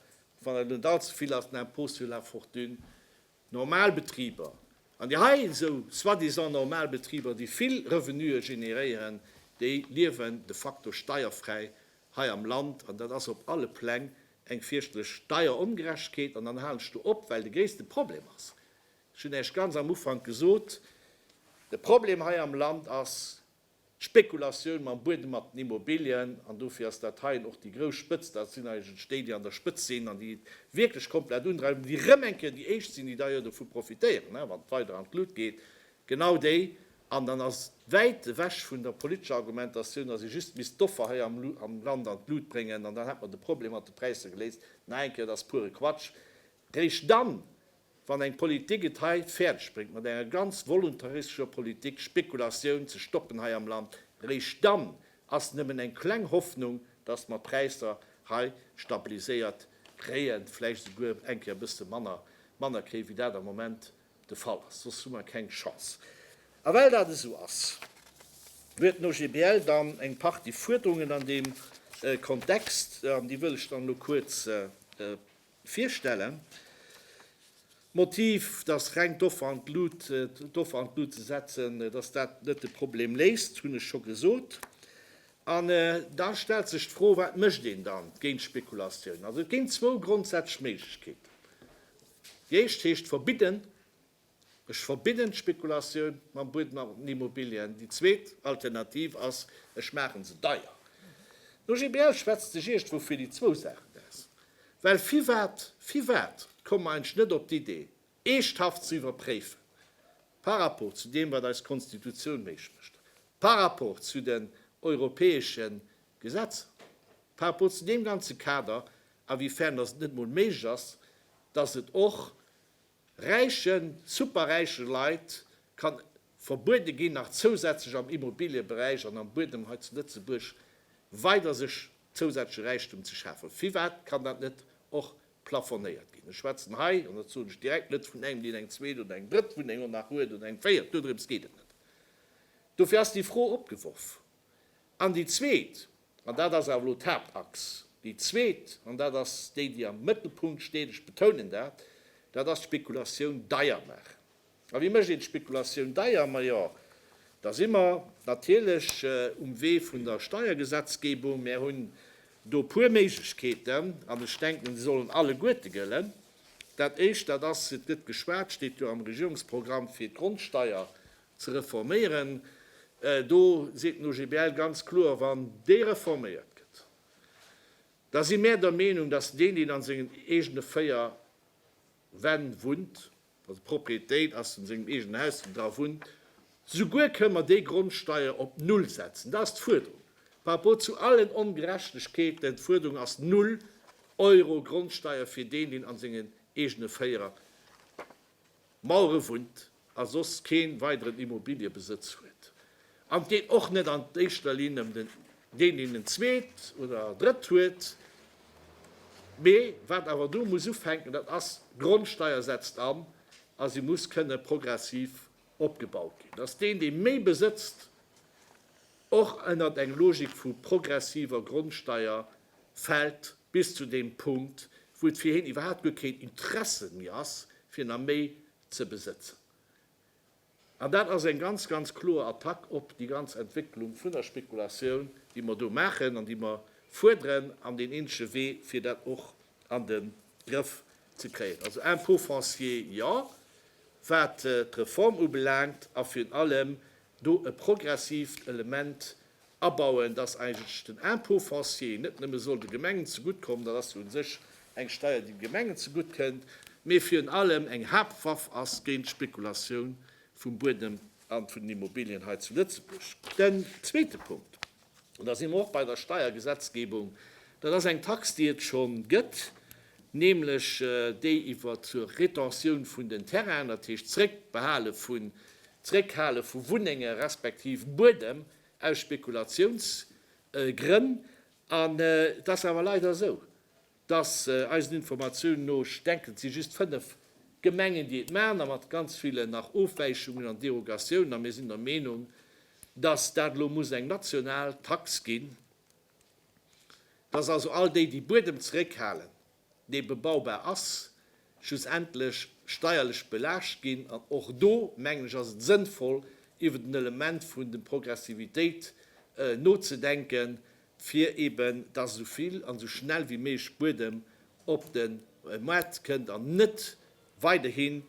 wann et net allze vill ass, den Impôt sur la fortune. Normal Betriber, an déi hei esou soi-disant normal Betriber, déi vill Revenuë generéieren, déi liewen de facto steierfräi hei am Land. An dat ass op alle Pläng eng fierchterlech Steierongerechtegkeet. An dann halen ech do op, well de gréisste Problem ass, ech hunn Iech ganz am Ufank gesot, de Problem hei am Land ass, D'Spekulatioun mam Buedem, mat den Immobilien, an dofir ass dat heien och déi grouss Spëtzt, dat sinn eigentlech déi, déi an der Spëtzt sinn an déi et wierklech komplett undreiwen, déi erëm eng Kéier déi éischt sinn, déi da jo dovu profitéieren, wann et weider an d'Lut geet, genau déi. An dann ass wäit ewech vun der politescher Argumentatioun, datt ee just misst d'Offer hei am Land an d'Lut bréngen an dann hätt mer de Problem mat de Präisser geléist. Nach eng Kéier, dat ass pure Quatsch. Réischt dann, Wann eng Politik et hei fäerdeg bréngt mat enger ganz voluntaristescher Politik Spekulatioun ze stoppen hei am Land, eréischt dann ass nëmmen eng kleng Hoffnung, datt mer d'Präisser hei stabiliséiert kréien, vläicht esouguer eng Kéier e bësse manner, manner kréien, wéi dat am Moment de Fall ass. Soss hu mer keng Chance. A well dat esou ass, huet den OGBL dann eng Partie Fuerderungen an deem Kontext, an déi wëll ech dann elo kuerz Virstellen. D'Motiv, dass reng d'Offer an d'Lut, d'Offer an d'Lut ze setzen, dass dat net de Problem léist, hunn ech scho gesot. An da stellt sech d'Fro, wat mécht een da géint d'Spekulatioun? Also et ginn zwou grondsätzlech Méiglechkeeten. Déi éischt heescht verbidden. Ech verbidden d'Spekulatioun mam Buedem an den Immobilien. Déi zweet Alternativ ass, ech maache se deier. D'OGBL schwätzt sech iergendwou fir déi zwou Saachen aus. Well firwat, firwat komme mer eigentlech net op d'Idee, eeschthaft ze iwwerpréifen, par rapport zu deem, wat eis Konstitutioun méiglech mécht, par rapport zu den europäesche Gesetzer, par rapport zu deem ganze Kader, awéifern dass et net emol méiglech ass, dass et och Räichen, superräiche Leit kann verbuede ginn, nach zousätzlech am Immobilieberäich an am Buedem hei zu Lëtzebuerg weider sech zousätzleche Räichtum ze schafen. Firwat kann dat net och plafonéiert ginn? Ech schwätzen hei, an dat soen ech direkt, net vun engem, deen eng zweet oder eng drëtt Wunneng och nach huet oder eng véiert, dodrëms geet et net, dofir ass déi Fro opgeworf. An déi zweet, An dat ass awer elo d'Haaptachs. Déi zweet, an dat ass déi, déi am Mëttelpunkt steet, ech betounen dat, dat ass d'Spekulatioun deier maachen. A wéi mécht een d'Spekulatioun deier? Majo, da si mer natierlech um Wee vun der Steiergesetzgebung. Mär hunn do e puer Méiglechkeeten an ech denken, déi sollen alleguerte gëllen. Dat Éischt, dat ass, et gëtt geschwat, steet jo am Regierungsprogramm, fir d'Grondsteier ze reforméieren, do seet den OGBL ganz kloer, wann déi reforméiert gëtt, da si mär der Meenung, datt deen, deen an sengen eegene véier Wänn wunnt, also d'Propriétéit ass an sengem eegenen Haus, deen dra wunnt, souguer kënn mer déi Grondsteier op null setzen. Dat ass d'Fuerderung par rapport zu allen Ongerechtegkeeten. D'Fuerderung ass null Euro Grondsteier fir deen, deen an sengen eegene véier Mauere wunnt. a soss kee weideren Immobiliëbesëtz huet, an et geet och net an éischter Linn ëm den, deen een en zweet oder drëtt huet, mee wat awer do muss ufänken, dat ass, d'Grondsteier setzt an a se muss kënne progressiv opgebaut ginn, dass deen, dee méi besëtzt, och ënnert eng Logik vu progressiver Grondsteier fält, bis zu deem Punkt, wou et fir hien iwwerhaapt guer keen Interesse méi ass, fir nach méi ze besëtzen. An dat ass eng ganz, ganz kloer Attack op déi ganz Entwécklung vun der Spekulatioun, déi mer do maachen an déi mer fuerderen, an deen eenzege Wee, fir dat och an de Grëff ze kréien. Also Impôt foncier, jo, wat d'Reform ubelaangt, a virun allem, do e progressiivt Element abauen, dass eigentlech den Impôt foncier net nëmme soll de Gemengen zegutt kommen, dat ass jo u sech eng Steier, déi de Gemengen zegutt kënnt, mee virun allem eng Haaptwaff ass géint d'Spekulatioun vum Buedem a vun den Immobilien hei zu Lëtzebuerg. Den zweete Punkt. Da si mer och bei der Steiergesetzgebung. Dat ass eng Tax, déi et scho gëtt, nämlech déi iwwer d'Retentioun vun den Terrainen, dat heescht d'Zréckbehale vun, d'Zréckhale vu Wunnenge respektiv Buedem aus Spekulatiounsgrënn. An et ass awer leider esou, Dass, eisen Informatiounen no, ech denken, et si just fënnef Gemengen, déi et maachen, a mat ganz villen nach Ofwäichungen an Derogatiounen. A mir sinn der Meenung, dass dat elo muss eng national Tax ginn, dass also all déi, déi Buedem zeréckhalen, dee bebaubar ass, schlussendlech steierlech belaascht ginn. An och do, mengen ech, ass et sënnvoll, iwwer den Element vun de Progressivitéit nozedenken, fir eben, dass esou vill an esou schnell wéi méiglech Buedem op de Maart kënnt an net weiderhin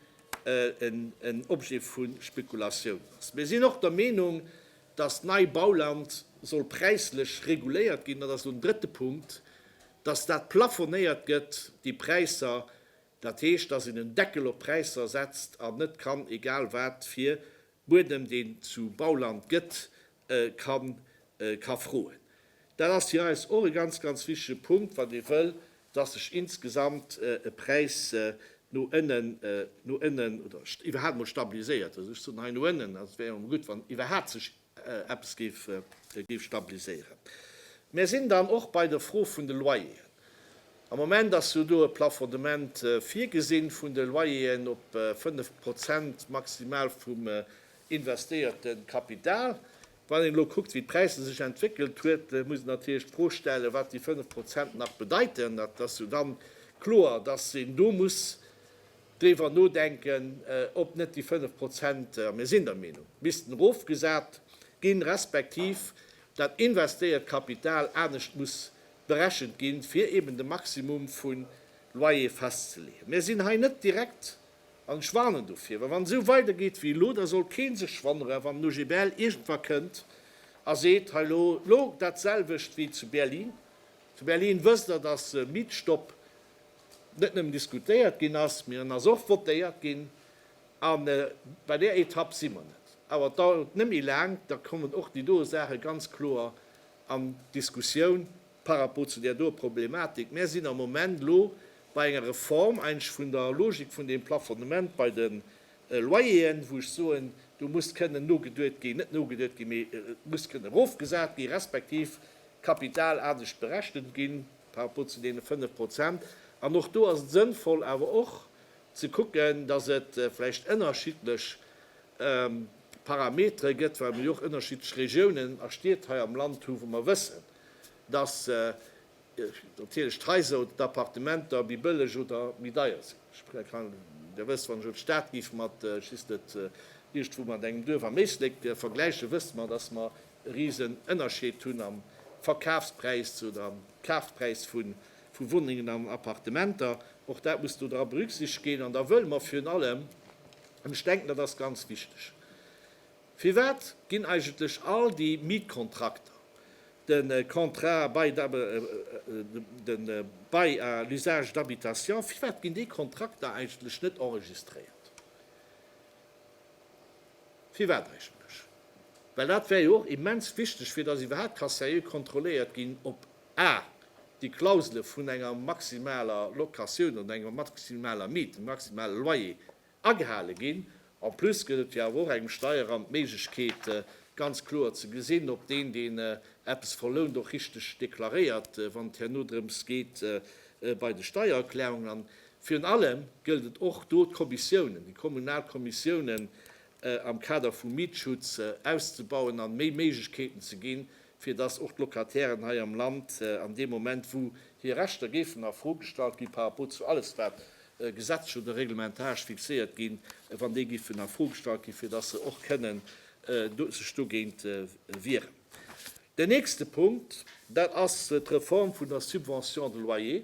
en Objet vu Spekulatiounen ass. Mir sinn och der Meenung, dass Neibauland soll präislech reguléiert ginn. Dat ass elo den drëtte Punkt, Dass dat plafonéiert gëtt, déi Präisser, dat heescht, dass een en Deckel op d'Präisser setzt an net kann egal wat fir Buedem, deen zu Bauland gëtt, ka froen. Dat ass fir eis och e ganz, ganz wichtige Punkt, wann ee wëll, dass sech insgesamt e Präis no ënnen, no ënnen oder iwwerhaapt emol stabiliséiert. Also ech soen hei no ënnen, also et wär jo emol gutt, wann iwwerhaapt sech eppes géif stabiliséieren. Mär sinn dann och bei der Fro vun de Loyeren. Am Moment ass jo do e Plafondement virgesinn vun de Loyeren op fënnef Prozent maximal vum investéierte Kapital. Wann een elo kuckt, wéi d'Präisser sech entwéckelt huet, muss een natierlech d'Fro stellen, wat déi fënnef Prozent nach bedeiten. Et ass jo dann kloer, dass een do muss driwwer nodenken, ob net déi 5 Prozent, a mir sinn der Meenung, missten erofgesat ginn, respektiv dat investéiert Kapital anescht muss berechent ginn, fir eben de Maximum vu Loyer festzeleeën. Mir sinn hei net direkt, an ech warnen dofir, well wann et esou weidergeet wéi elo, da soll kee sech wonnere wann den OGBL iergendwa kënnt a seet, hei elo, elo dat selwecht wéi zu Berlin. Zu Berlin wësst Der, datt Mietstopp. net nëmmen diskutéiert ginn ass, mee en ass och votéiert ginn. A bei där Etapp si mer net. Awer et dauert net méi laang, da kommen och déi doe Saache ganz kloer an d'Diskussioun par rapport zu där doe Problematik. Mär sinn am Moment elo bei enger Reform, eigentlech vun der Logik vun deem Plafonnement bei de Loyeren, wou ech soen, do muss kënnen nogeduet ginn, net nogeduet ginn, mee et muss kënnen erofgesat ginn, respektiv Kapital anescht berechent ginn. par rapport zu deene 5 Prozent. An och do ass et sënnvoll awer och ze kucken, datt et vläicht ënnerschiddlech Parametere gëtt, well mer jo och ënnerschiddlech Regiounen a Stied hei am Land hu wou mer wëssen, datt natierlech d'Haiser, d'Appartementer méi bëlleg oder méi deier sinn. Ech kann Iech da wësst, wann ech elo d'Stad géif mat, ech weess net, iergendwou mat engem Duerf am Éislek vergläichen, wësst mer, datt mer e riesen Ënnerscheed hunn am Verkafspräis oder am Kafpräis vu Wunnengen an Appartementer. Och dat muss do dra berücksichtegt ginn. An da wëlle mer virun allem, an ech denken, dat ass ganz wichteg, Firwat ginn eigentlech all déi Mietkontrakter, de Contrat bail à, de Bail à l'usage d'habitation, firwat ginn déi Kontrakter eigentlech net enregistréiert? Firwat eigentlech? Well dat wär jo och immens wichteg, fir dass iwwerhaapt ka sérieux kontrolléiert ginn, ob a déi Klausele vun enger maximaler Locatioun oder enger maximaler Miet, engem maximale Loyer agehale ginn. En plus gëtt et jo awer och engem Steierramt d'Méiglechkeet, ganz kloer ze gesinn, ob deen, deen eppes verlount, och richteg deklaréiert, wann et herno drëms geet bei de Steiererklärungen. An Virun allem gëllt et och do d'Kommissiounen, déi kommunal Kommissiounen am Kader vum Mietschutz auszebauen an méi Méiglechkeeten ze ginn, fir dass och d'Locatairen hei am Land an deem Moment wou hir Rechter géifen a Fro gestallt ginn par rapport zu alles wat gesetzlech oder reglementarsch fixéiert ginn, wann déi géifen a Fro gestallt ginn, fir dass se och kënnen sech dogéint wieren. Den nächste Punkt, dat ass d'Reform vun der Subvention de loyer.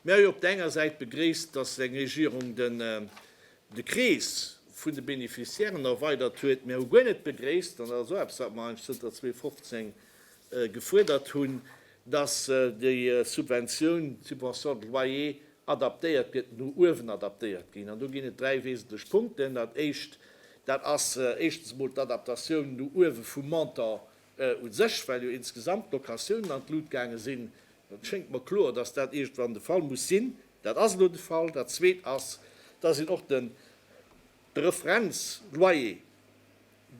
Mir hu jo op der enger Säit begréisst, dass eng Regierung den de Krees vun de Bénéficiairen erweidert huet. Mir hu guer net begréisst, an dat ass och eppes, wat mer eigentlech zënter 2015 gefuerdert hunn, dass déi Subventioun, d'Subvention de loyer, adaptéiert gëtt, no uewen adaptéiert ginn. An do ginn et dräi wesentlech Punkten. Dat éischt, dat ass éischtens emol d'Adaptatioun no uewe vum Montant u sech, well jo insgesamt d'Locatiounen an d'Lut gaange sinn. Et schéngt mer kloer, dass dat iergendwann de Fall muss sinn. Dat ass elo de Fall. Dat Zweet ass, dass een och de De Referenzloyer,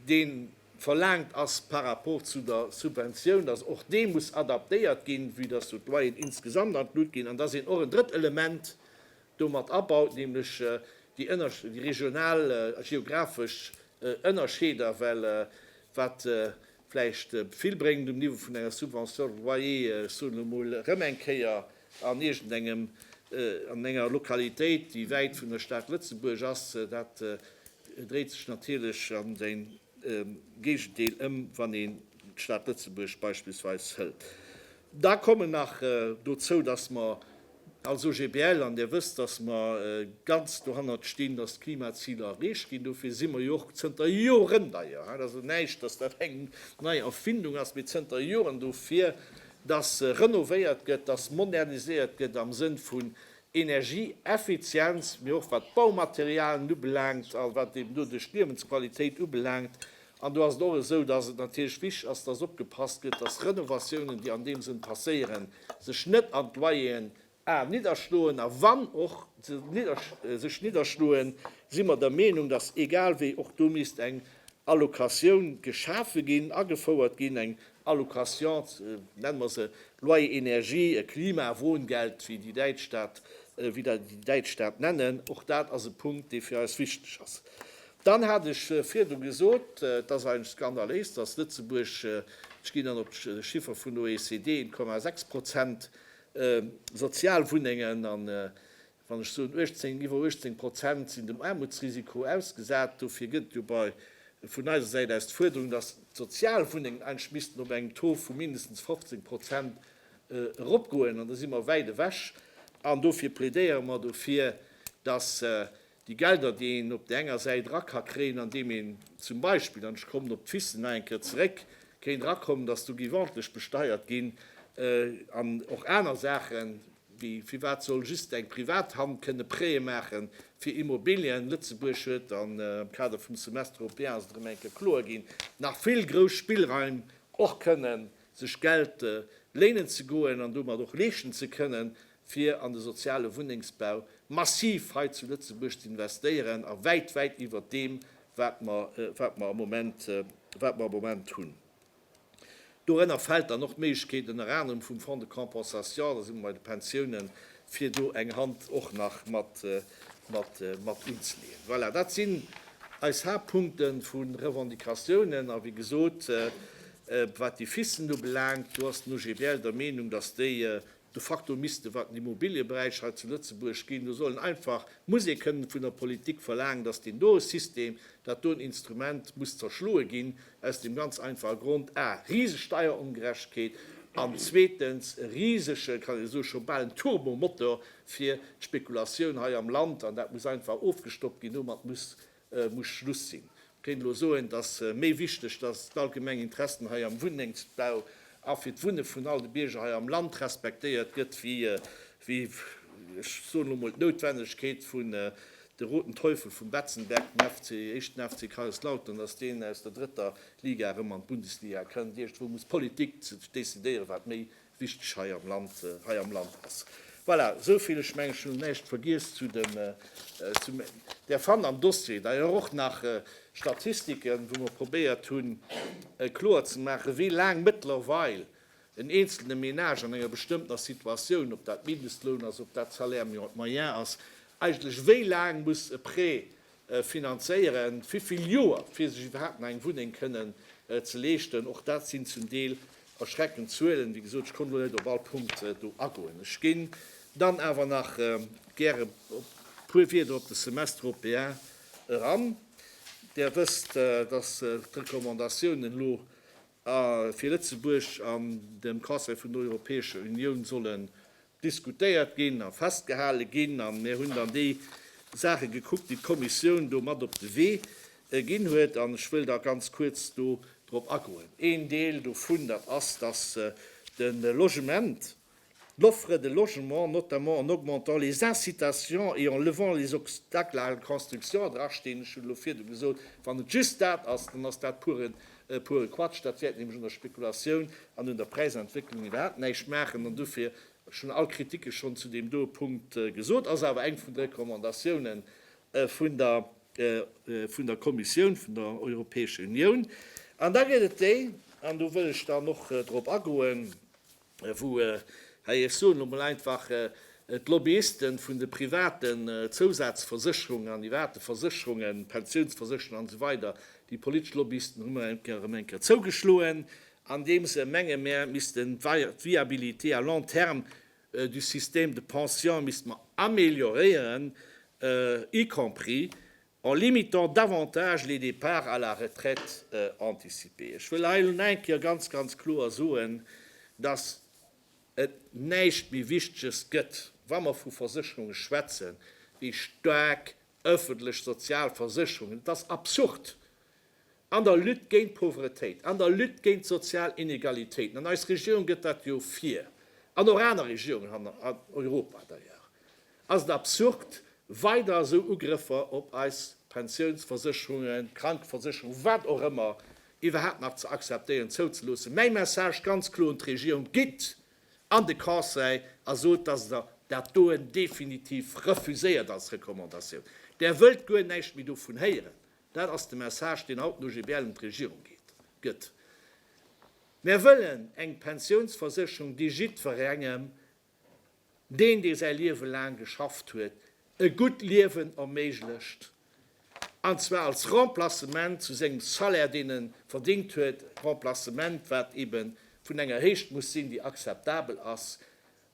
dee verlaangt ass par rapport zu der Subventioun, dass och dee muss adaptéiert ginn, vue dass do d'Loyeren insgesamt an d'Lut ginn, an dass een och en drëtt Element do mat abaut, nämlech déi regional, geographesch Ënnerscheeder, well wat vläicht vill bréngt um Niveau vun enger Subvention de loyer, ech soen elo emol, erëm eng Kéier an iergendengem, an enger Lokalitéit, déi wäit vun der Stad Lëtzebuerg ass. Dat dréit sech natierlech an de Géigendeel ëm, wann een d'Stad Lëtzebuerg beispillsweis hëlt. Da kommen nach dozou, dass mer als OGBL, an Dir wësst, dass mer ganz dohannert stinn, dass d'Klimaziler erreecht ginn. Dofir si mer jo och zënter Joren, d'ailleurs, dat ass jo näischt, dass dat eng nei Erfindung ass, mee zënter Joren dofir, dass renovéiert gëtt, dass moderniséiert gëtt am Sënn vun Energieeffizienz, mee och wat d'Baumaterialien ubelaangt a wat eeben doduerch d'Liewensqualitéit ubelaangt, An do ass et och esou, dass et natierlech wichtig ass, dass opgepasst gëtt, dass Renovatiounen, déi an deem Sënn passéieren, sech net an d'Loyeren a nidderschloen. A wann och se sech nidderschloen, si mer der Meenung, dass egal wéi och do misst eng Allocatioun geschafe ginn, agefouert ginn, eng Allocation, nenne mer se Loyer Énergie, e Klimawohngeld, wéi déi Däitsch dat, wéi déi Däitsch dat nennen. Och dat ass e Punkt, dee fir eis wichtig ass. Dann hat ech virdu gesot, et ass eigentlech skandaléis, dass Lëtzebuerg, ech ginn dann op d'Chiffer vun OECD, 1,6 Prozent Sozialwunnengen, an wann ech soen 18, iwwer 18 Prozent sinn dem Aarmutsrisiko ausgesat. Dofir gëtt et jo bei, vun eiser Säit aus, d'Fuerderung, dass d'Sozialwunnengen eigentlech missten op engem Taux vu mindestens 15 Prozent eropgoen, an do si mer wäit ewech. An dofir plädéiere mer dofir, dass Déi Gelder, déi een op där enger Säit era ka kréien, andeem een zum Beispill, an ech kommen op d'Fissel nach eng Kéier zeréck, kéint erakommen, datt do géif ordentlech besteiert ginn, an och aner Saachen, wéi firwat soll just eng privat Hand kënne Prêtë maache fir Immobilien? Lëtzebuerg huet, an am Kader vum Semestre européen ass et erëm eng Kéier kloer ginn, nach vill grouss Spillraim, och kënnen sech Geld léinen ze goen an domat och leeschten ze kënnen, fir an de soziale Wunnengsbau massiv hei zu Lëtzebuerg ze investéieren a wäit, wäit iwwert deem, wat mer, wat mer am Moment, wat mer am Moment hunn. Dorënner fält dann och d'Méiglechkeet ënner anerem vum Fonds de compensation, da si mer bei de Pensiounen, fir do eng Hand och nach mat, mat, mat unzeleeën. Voilà, dat sinn eis Haaptpunkte vu Revendicatiounen. A wéi gesot, wat déi Fissen ubelaangt, do ass den OGBL der Meenung, datt déi De facto misste, wat den Immobiliëberäich hei zu Lëtzebuerg ginn, do sollen einfach, muss ee kënnen vun der Politik verlaangen, datt deen do System, dat do en Instrument muss zerschloe ginn, aus deem ganz einfache Grond, a riseg Steierongerechtegkeet an zweetens e risege, kann een soen, scho bal en Turbomotor fir d'Spekulatioun hei am Land, an dat muss einfach ofgestoppt ginn, domat muss Et muss Schluss sinn. Mir kéinten elo soen, et ass méi wichteg, datt d'allgemeng Interessen hei am Wunnengsbau a fir d'Wunne vun all de Bierger hei am Land respektéiert gëtt, wéi, ech soen elo emol, d'Noutwennegkeet vun De Roten Teufel vum Betzenberg, dem FC, éischten FC Kaiserslautern, datt deen aus der drëtter Liga erëm an d'Bundesliga kënnt. Iergendwou muss d'Politik decidéieren, wat méi wichteg hei am Land hei am Land ass. Voilà, esou vill, ech mengen, ech hunn näischt vergiess zu dem zu Där fannt am Dossier d'ailleurs och nach Statistiken, wou mer probéiert hunn kloer ze maachen, wéi laang mëttlerweil en eenzelne Ménage an enger bestëmmtener Situatioun, ob dat Mindestloun ass, ob dat Salaire moyen ass, eigentlech wéi laang muss e Prêt finanzéieren, vivill Joer fir sech iwwerhaapt nach eng Wunneng kënnen ze leeschten. Och dat sinn zum Deel erschreckend Zuelen. Wéi gesot, ech konnt elo net op all Punkt do agoen. Ech géing dann awer nach gäre puer Wieder op de Semestre européen eran. Där wësst, dass d'Recommandatiounen elo A fir Lëtzebuerg an dem Conseil vun der Europäescher Unioun sollen diskutéiert ginn a festgehale ginn. A mir hunn dann déi Saache gekuckt, déi d'Kommissioun do mat op de Wee ginn huet. An ech wëll da ganz kuerz do drop agoen. Een Deel dovun, dat ass, dass de Logement, l'offre de logement, notamment en augmentant les incitations et en levant les obstacles à la construction, dra steen, ech hunn elo virdu gesot, wann et just dat ass, dann ass dat puren, pure Quatsch, dat wäert nämlech un der Spekulatioun an un der Präisentwécklung iwwerhaapt näischt maachen an dofir, ech hunn all Kritike schonn zu deem doe Punkt gesot, ass awer eng vun de Recommandatiounen vun der, vun der Kommissioun vun der Europäescher Unioun. An da gëtt et déi, an do wëll ech dann och drop agoen, wou, hei ech soen elo mol einfach, d'Lobbyisten vun de privaten Zousazversécherungen an iwwerhaapt de Versécherungen, Pensiounsversécherungen an esou weider, déi politesch Lobbyisten hu mer erëm eng Kéier zougeschloen, andeem se menge mer missten d'Viabilité à long terme du système de pension misste mer amélioréieren, y compris en limitant davantage les départs à la retraite anticipée. Ech wëll hei nach eng Kéier ganz, ganz kloer soen, dass et näischt méi Wichteges gëtt, wa mer vu Versécherunge schwätzen, wéi staark öffentlech sozial Versécherungen. Et ass absurd, An der Lutte géint d'Pauvretéit, an der Lutte géint d'sozial Inegalitéiten, an eis Regierung gëtt dat jo vir, an och aner Regierungen an Europa d'ailleurs, ass et absurd, weider esou Ugrëffer op eis Pensiounsversécherungen, Krankeversécherungen, wat och ëmmer, iwwerhaapt nach ze akzeptéieren, zouzeloossen. Mäi Message ganz kloer un d'Regierung, Gitt an de Conseil a sot, dass Der dat doen definitiv refuséiert als Recommandatioun. Der wëllt guer näischt méi dovun héieren. Dat ass de Message, deen haut den OGBL un d'Regierung gëtt. Mär wëllen eng Pensiounsversécherung, déi jiddwerengem, deen, dee säi Liewe laang geschafft huet, e gutt Liewen erméiglecht, an zwar als Remplacement zu sengem Salaire, deen e verdingt huet, Remplacement, wat eebe vun enger Héicht muss sinn, déi akzeptabel ass,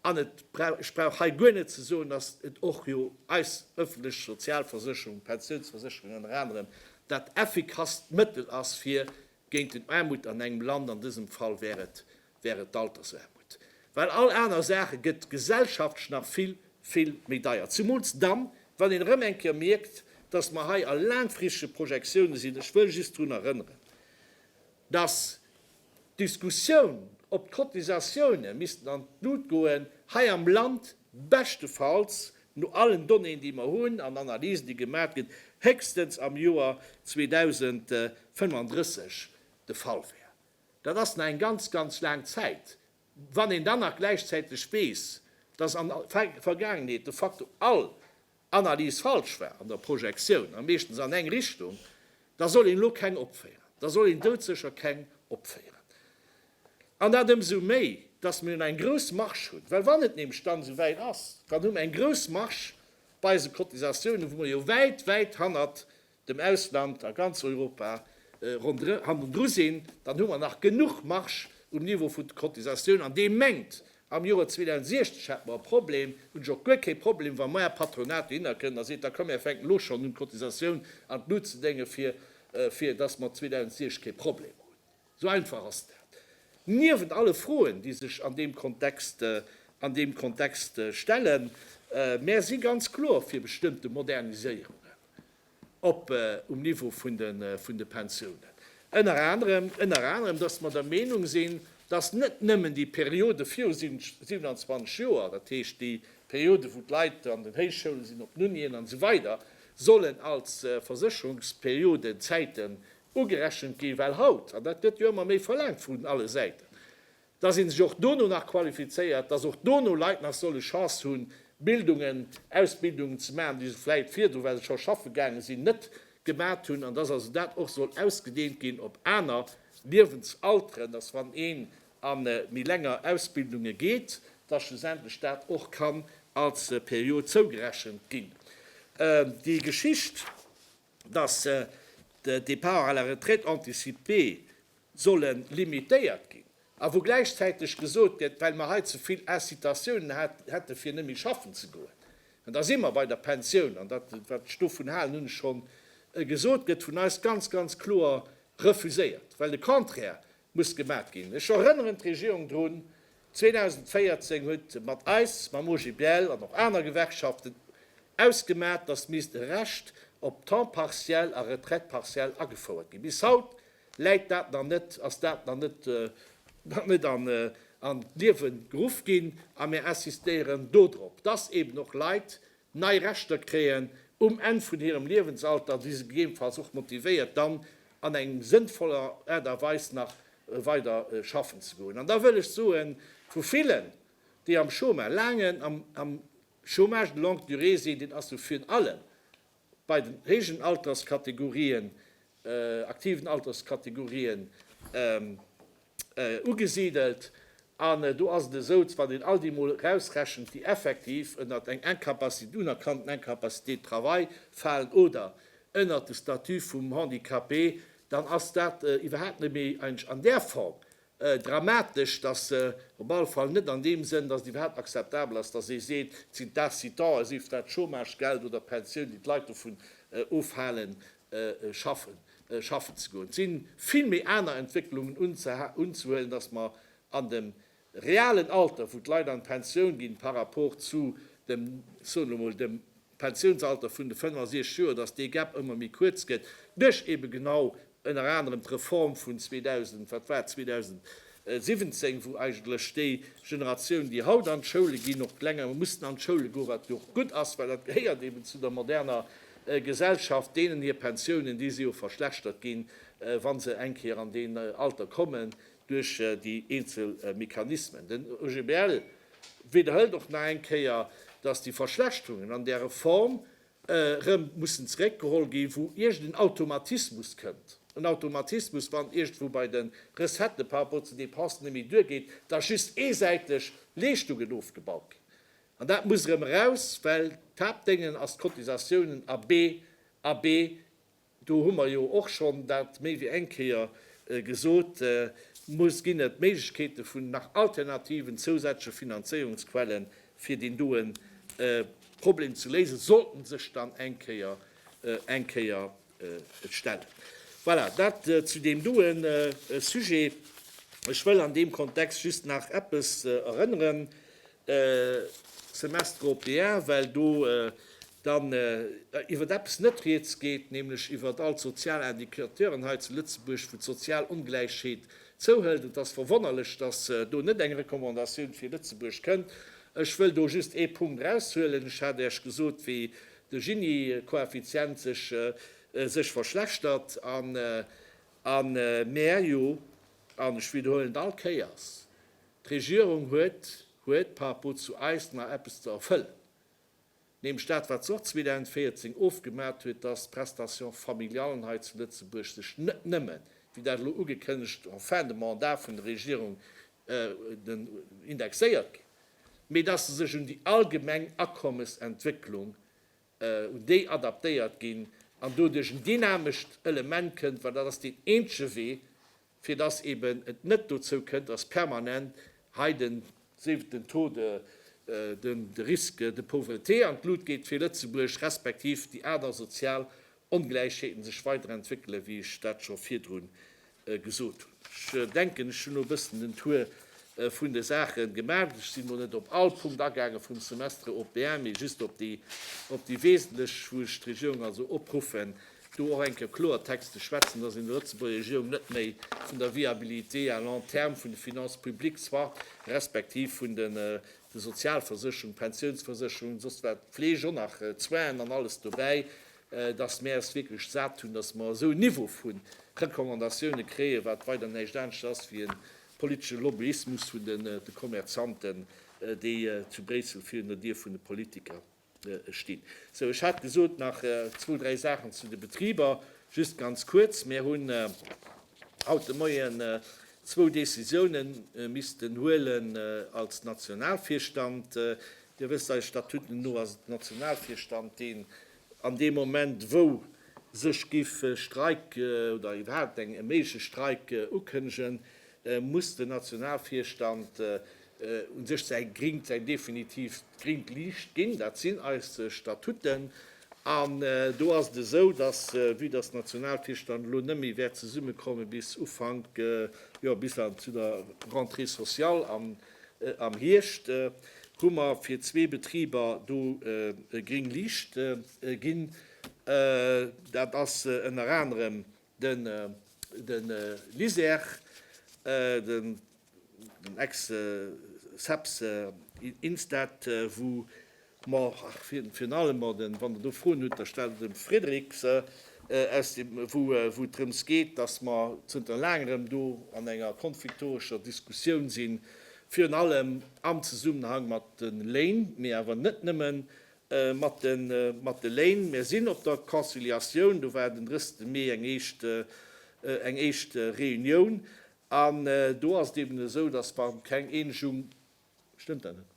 An et brauch, ech brauch hei guer net ze soen, dass et och jo eis öffentlech Sozialversécherung, d'Pensionsversécherung ënner anerem dat effikasst Mëttel ass fir géint den Aarmut an engem Land, an dësem Fall wär et, wär et d'Altersaarmut. Well all aner Saache gëtt gesellschaftlech nach vill, vill méi deier, zumools dann, wann een erëm eng Kéier mierkt, dass mer hei a laangfristege Projektione sinn. Ech wëll just drun erënneren, Dass d'Diskussioun, ob d'Cotisatiounen missten an d'Lut goen, hei am Land beschtefalls, no allen Donnéeën, déi mer hunn, an Analysen, déi gemat ginn, héchstens am Joer 2035 de Fall wär. Dat ass nach eng ganz, ganz laang Zäit. Wann een dann nach gläichzäiteg weess, dass an Vergaangenheet de facto all Analys falsch war an der Projektioun a meeschtens an eng Richtung, da soll een elo keng opféieren, da soll een doudsécher keng opféieren. An dat ëmsou méi, dass mir eng grouss Marge hunn, well wann et nämlech dann esou wäit ass, dann hu mir eng grouss Marge bei eise Cotisatiounen, wou mir jo wäit, wäit hannert dem Ausland a ganz Europa rondrë hannendru sinn, dann hu mer nach genuch Marge um Niveau vun de Cotisatioun an dee mengt, am Joer 2060 hätte mer e Problem, hunn ech och guer kee Problem, wa maer Patronat dohinner kënn a seet, da komm mir fänken elo schonn un d'Cotisatioun an d'Lut ze déngen, fir fir dass mer 2060 kee Problem hunn. Esou einfach ass dat. Niewent alle Froen, déi sech an deem Kontext an deem Kontext stellen, maer si ganz kloer fir bestëmmte Moderniséierungen. op um Niveau vun de vun de Pensiounen. Ënner anerem, ënner anerem, dass mer der Meenung sinn, dass net nëmmen déi Periode viru 27 Joer, dat heescht déi Periode wou d'Leit an den Héichschoulen sinn, op den Unien an esou weider sollen als Versécherungsperioden, Zäiten ugerechent ginn, well haut, an dat gëtt jo ëmmer méi verlaangt vun alle Säiten, dass ee sech och dono nach qualifizéiert, dass och dono Leit nach solle Chance hu Bildungen, Ausbildungen ze maachen, déi se vläicht virdru, well se scho schaffe gaange sinn, net gemat hunn, an dass also dat och soll ausgedeent ginn op aner Liewensalteren, dass wann een a méi länger Ausbildunge geet, dass schlussendlech dat och kann als Period zougerechent ginn. Déi Geschicht, dass de Départ à la retraite anticipée, solle limitéiert ginn a wou gläichzäiteg gesot gëtt, well mer hei ze vill Incitatiounen hätten, fir net méi schaffen ze goen. An da si mer bei der Pensioun. An dat, wat ech dovun halen, hunn ech schonn gesot, gëtt vun eis ganz, ganz kloer refuséiert, well de Contraire muss gemat ginn. Ech erënneren d'Regierung drun, 2014 huet mat eis, mam OGBL an och aner Gewerkschaften ausgemat, datt misst e Recht op Temps partiel a Retraite partielle agefouert ginn. Bis haut Läit dat dann net, ass dat dann net, dann net an, an d'Liewe geruff ginn, a mir insistéieren do drop, dass eben och Leit nei Rechter kréien um Enn vun hirem Liewensalter, déi se gegebenfalls och motivéiert, dann an eng sënnvoller Aart a Weis nach weider schaffen ze goen. An da wëll ech soen, vu villen, déi am Chôma, laangen, am, am Chômage de longue durée sinn, deen ass jo virun allem bei den héijen Alterskategorien, aktiven Alterskategorien, ugesidelt. An do ass et esou, wann een all déi mol erausrechent, déi effektiv ënnert eng Incapacité, unerkannten Incapacité de travail falen oder ënnert de Statut vum Handicapé, dann ass dat iwwerhaapt net méi, eigentlich an där Form, Dramatesch, dass se op alle Fall net an deem Sënn, dass et iwwerhaapt akzeptabel ass, dass ee seet, et sinn d'Incitae, sief dat d'Chômagegeld oder d'Pensioun, déi d'Leit dovun ofhalen, schaffen, schaffen ze goen. Et sinn vill méi aner Entwécklungen unzehuelen, dass mer an dem realen Alter, wou d'Leit an d'Pensioun ginn, par rapport zu dem, soen elo mol, dem Pensiounsalter vun de 65 Joer, dass dee Gap ëmmer méi kuerz gëtt duerch eebe genau ënner anerem d'Reform vun 2000, wat war et, 2017, wou eigentlech déi Generatioun, déi haut an d'Schoule ginn, och länger mussten an d'Schoule goen, wat jo och gutt ass, well dat gehéiert eeben zu der moderner Gesellschaft. Deenen hir Pensiounen, déi si jo verschlechtert ginn, wa se eng Kéier an deen Alter kommen. duerch déi eenzel Mechanismen. Den OGBL widderhëlt och nach eng Kéier, datt déi Verschlechterungen an där Reform erëm mussen zeréckgeholl ginn, wou iergend en Automatismus kënnt, en Automatismus, wann iergendwou bei de Recettë par rapport zu de Dépensen net méi duergeet, datt just eesäiteg Leeschtungen ofgebaut ginn. An dat muss erëm eraus, well d'Haaptdéngen ass d'Cotisatiounen a B a B Do hu mer jo och schonn dat méi wéi eng Kéier gesot, muss ginn et Méiglechkeete vun nach alternativen, zousätzleche Finanzéierungsquelle fir deen doe Problem ze léisen, sollt en sech dann eng Kéier eng Kéier stellen. Voilà, dat zu deem doe Sujet. Ech wëll an deem Kontext just nach eppes erënneren, Semestre européen, well do dann iwwert eppes net rieds geet, nämlech iwwert all d'sozial Indicateuren hei zu Lëtzebuerg, wou d'sozial Ongläichheet zouhëlt. Et ass verwonnerlech, dass do net eng Recommandatioun fir Lëtzebuerg kënnt. Ech wëll do just ee Punkt eraushuelen. Ech hat Äech gesot, wéi de Gini-Koeffizient sech verschlechtert an mir jo, an ech widerhuelen et all Kéiers, D'Regierung huet huet par rapport zu eis nach eppes ze erfëllen, nämlech dat, wat se och 2014 ofgemat huet, dass d'Prestations familiallen hei zu Lëtzebuerg sech net nëmme, wéi dat elo ugekënnegt, en fin de mandat vun der Regierung indexéiert ginn, mee dass se sech un déi allgemeng Akommesentwécklung, un déi adaptéiert ginn an doduerch en dynamescht Element kënnt, well dat ass deen eenzege Wee, fir dass eben et net dozou kënnt, dass permanent hei den siwten Taux de, den de Risque de pauvreté an d'Lut geet fir Lëtzebuerg, respektiv déi aner sozial Ongläichheeten sech weiderentwéckelen, wéi ech dat scho virdrun gesot hunn. Ech denken, ech hunn elo e bëssen den Tour vun de Saache gemaach. Ech sinn elo net op all Punkt agaange vum Semestre européen, mee just op déi, op déi wesentlech, wou ech d'Regierung also opruffen, do och eng Kéier Kloertext ze schwätzen, dass een der Lëtzebuerger Regierung net méi vun der Viabilité à long terme vun de Finances publiques zwar, respektiv vun den Sozialversécherungen, Pensionsversécherungen, soss wat, Fleeg och nach, d'Soinen an alles dobäi, dass mär es wierklech sat hunn, dass mer esou e Niveau vu Recommandatiounen kréien, wat weider näischt anescht ass wéi e politesche Lobbyismus vun de Kommerzanten, déi zu Bréissel virun der Dier vun de Politiker. stinn. Sou, ech hat gesot, nach zwou, dräi Saachen zu de Betriber, just ganz kuerz. Mir hunn haut de Moien zwou Décisioune missten huelen als Nationalvirstand. Dir wësst, eise Statuten no ass et de Nationalvirstand, deen an deem Moment, wou sech géif e Streik oder iwwerhaupt e méigleche Streik ukënnegen, muss den Nationalvirstand un sech säi gringt, säi definitiivt gringt Liicht ginn. Dat sinn eis Statuten. An do ass et esou, dass, vue dass d'Nationalkierch dann elo net méi wäert zesummekomme bis Ufank, jo, bis an zu der Rentrée sociale am, am Hierscht, hu mer fir zwee Betriber do gring Liicht ginn. Dat ass ënner anerem De LISER, den ex-SEPS Instat, wou mer virun allem, wann Der do Froen hutt, da stellt der dem Frédéric se, wou et drëms geet, datt mer zënter laangerem do an enger konfliktorescher Diskussioun sinn, virun allem am Zesummenhang mat de Léin, mee awer net nëmmen, mat de Léin. Mir sinn op der Conciliatioun, do war den 30 Mee eng éischt Reunioun an do ass et eben esou, datt mer keng Eenegung, stëmmt dat net?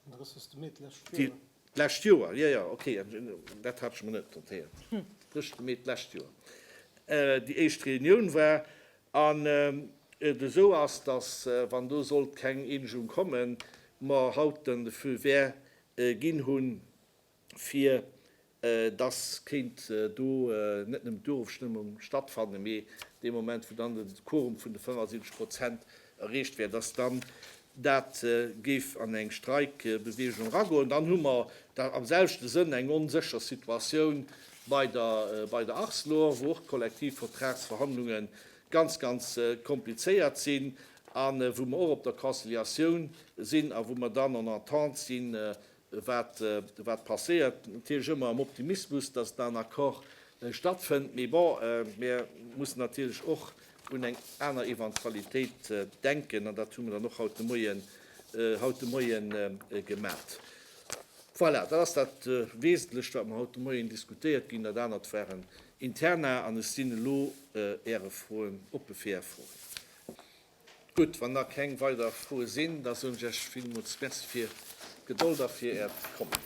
Den 30 Mee d'lescht Joer. D'lescht Joer, jo, jo, okay, dat hat ech mer net notéiert. Den 30 Mee d'lescht Joer déi éischt Reunioun war an et esou ass, datt, wann do sollt keng Eenegung kommen, mer haut den Feu vert ginn hunn, fir dass kéint do net nëmmen d'Urofstëmmung stattfannen, mee dee Moment, wou dann de Quorum vun de 75 Prozent erreecht wär, dass dann dat géif an eng Streikbeweegung eragoen. Dann hu mer da am selwechte Sënn eng onsécher Situatioun bei der Arcelor, wou och d'Kollektivvertragsverhandlunge ganz ganz komplizéiert sinn a wou mer och op der Conciliatioun sinn a wou mer dann en entente sinn, wat passéiert. Natierlech ëmmer am Optimismus, dass da en Accord stattfënnt. Mee bon, mir mussen natierlech och un eng aner Eventualitéit denken an dat hu mer dann och haut de Moie gemaach. Voilà, dat ass dat Wesentlecht, wat mer haut de Moien diskutéiert ginn. Dat anert waren Interna an ech sinn elo Äre Froen oppe fir Är Froen. Gutt, wann da keng weider Froe sinn, da soen ech Iech villmools Merci fir d'Gedold a fir Äert Kommen.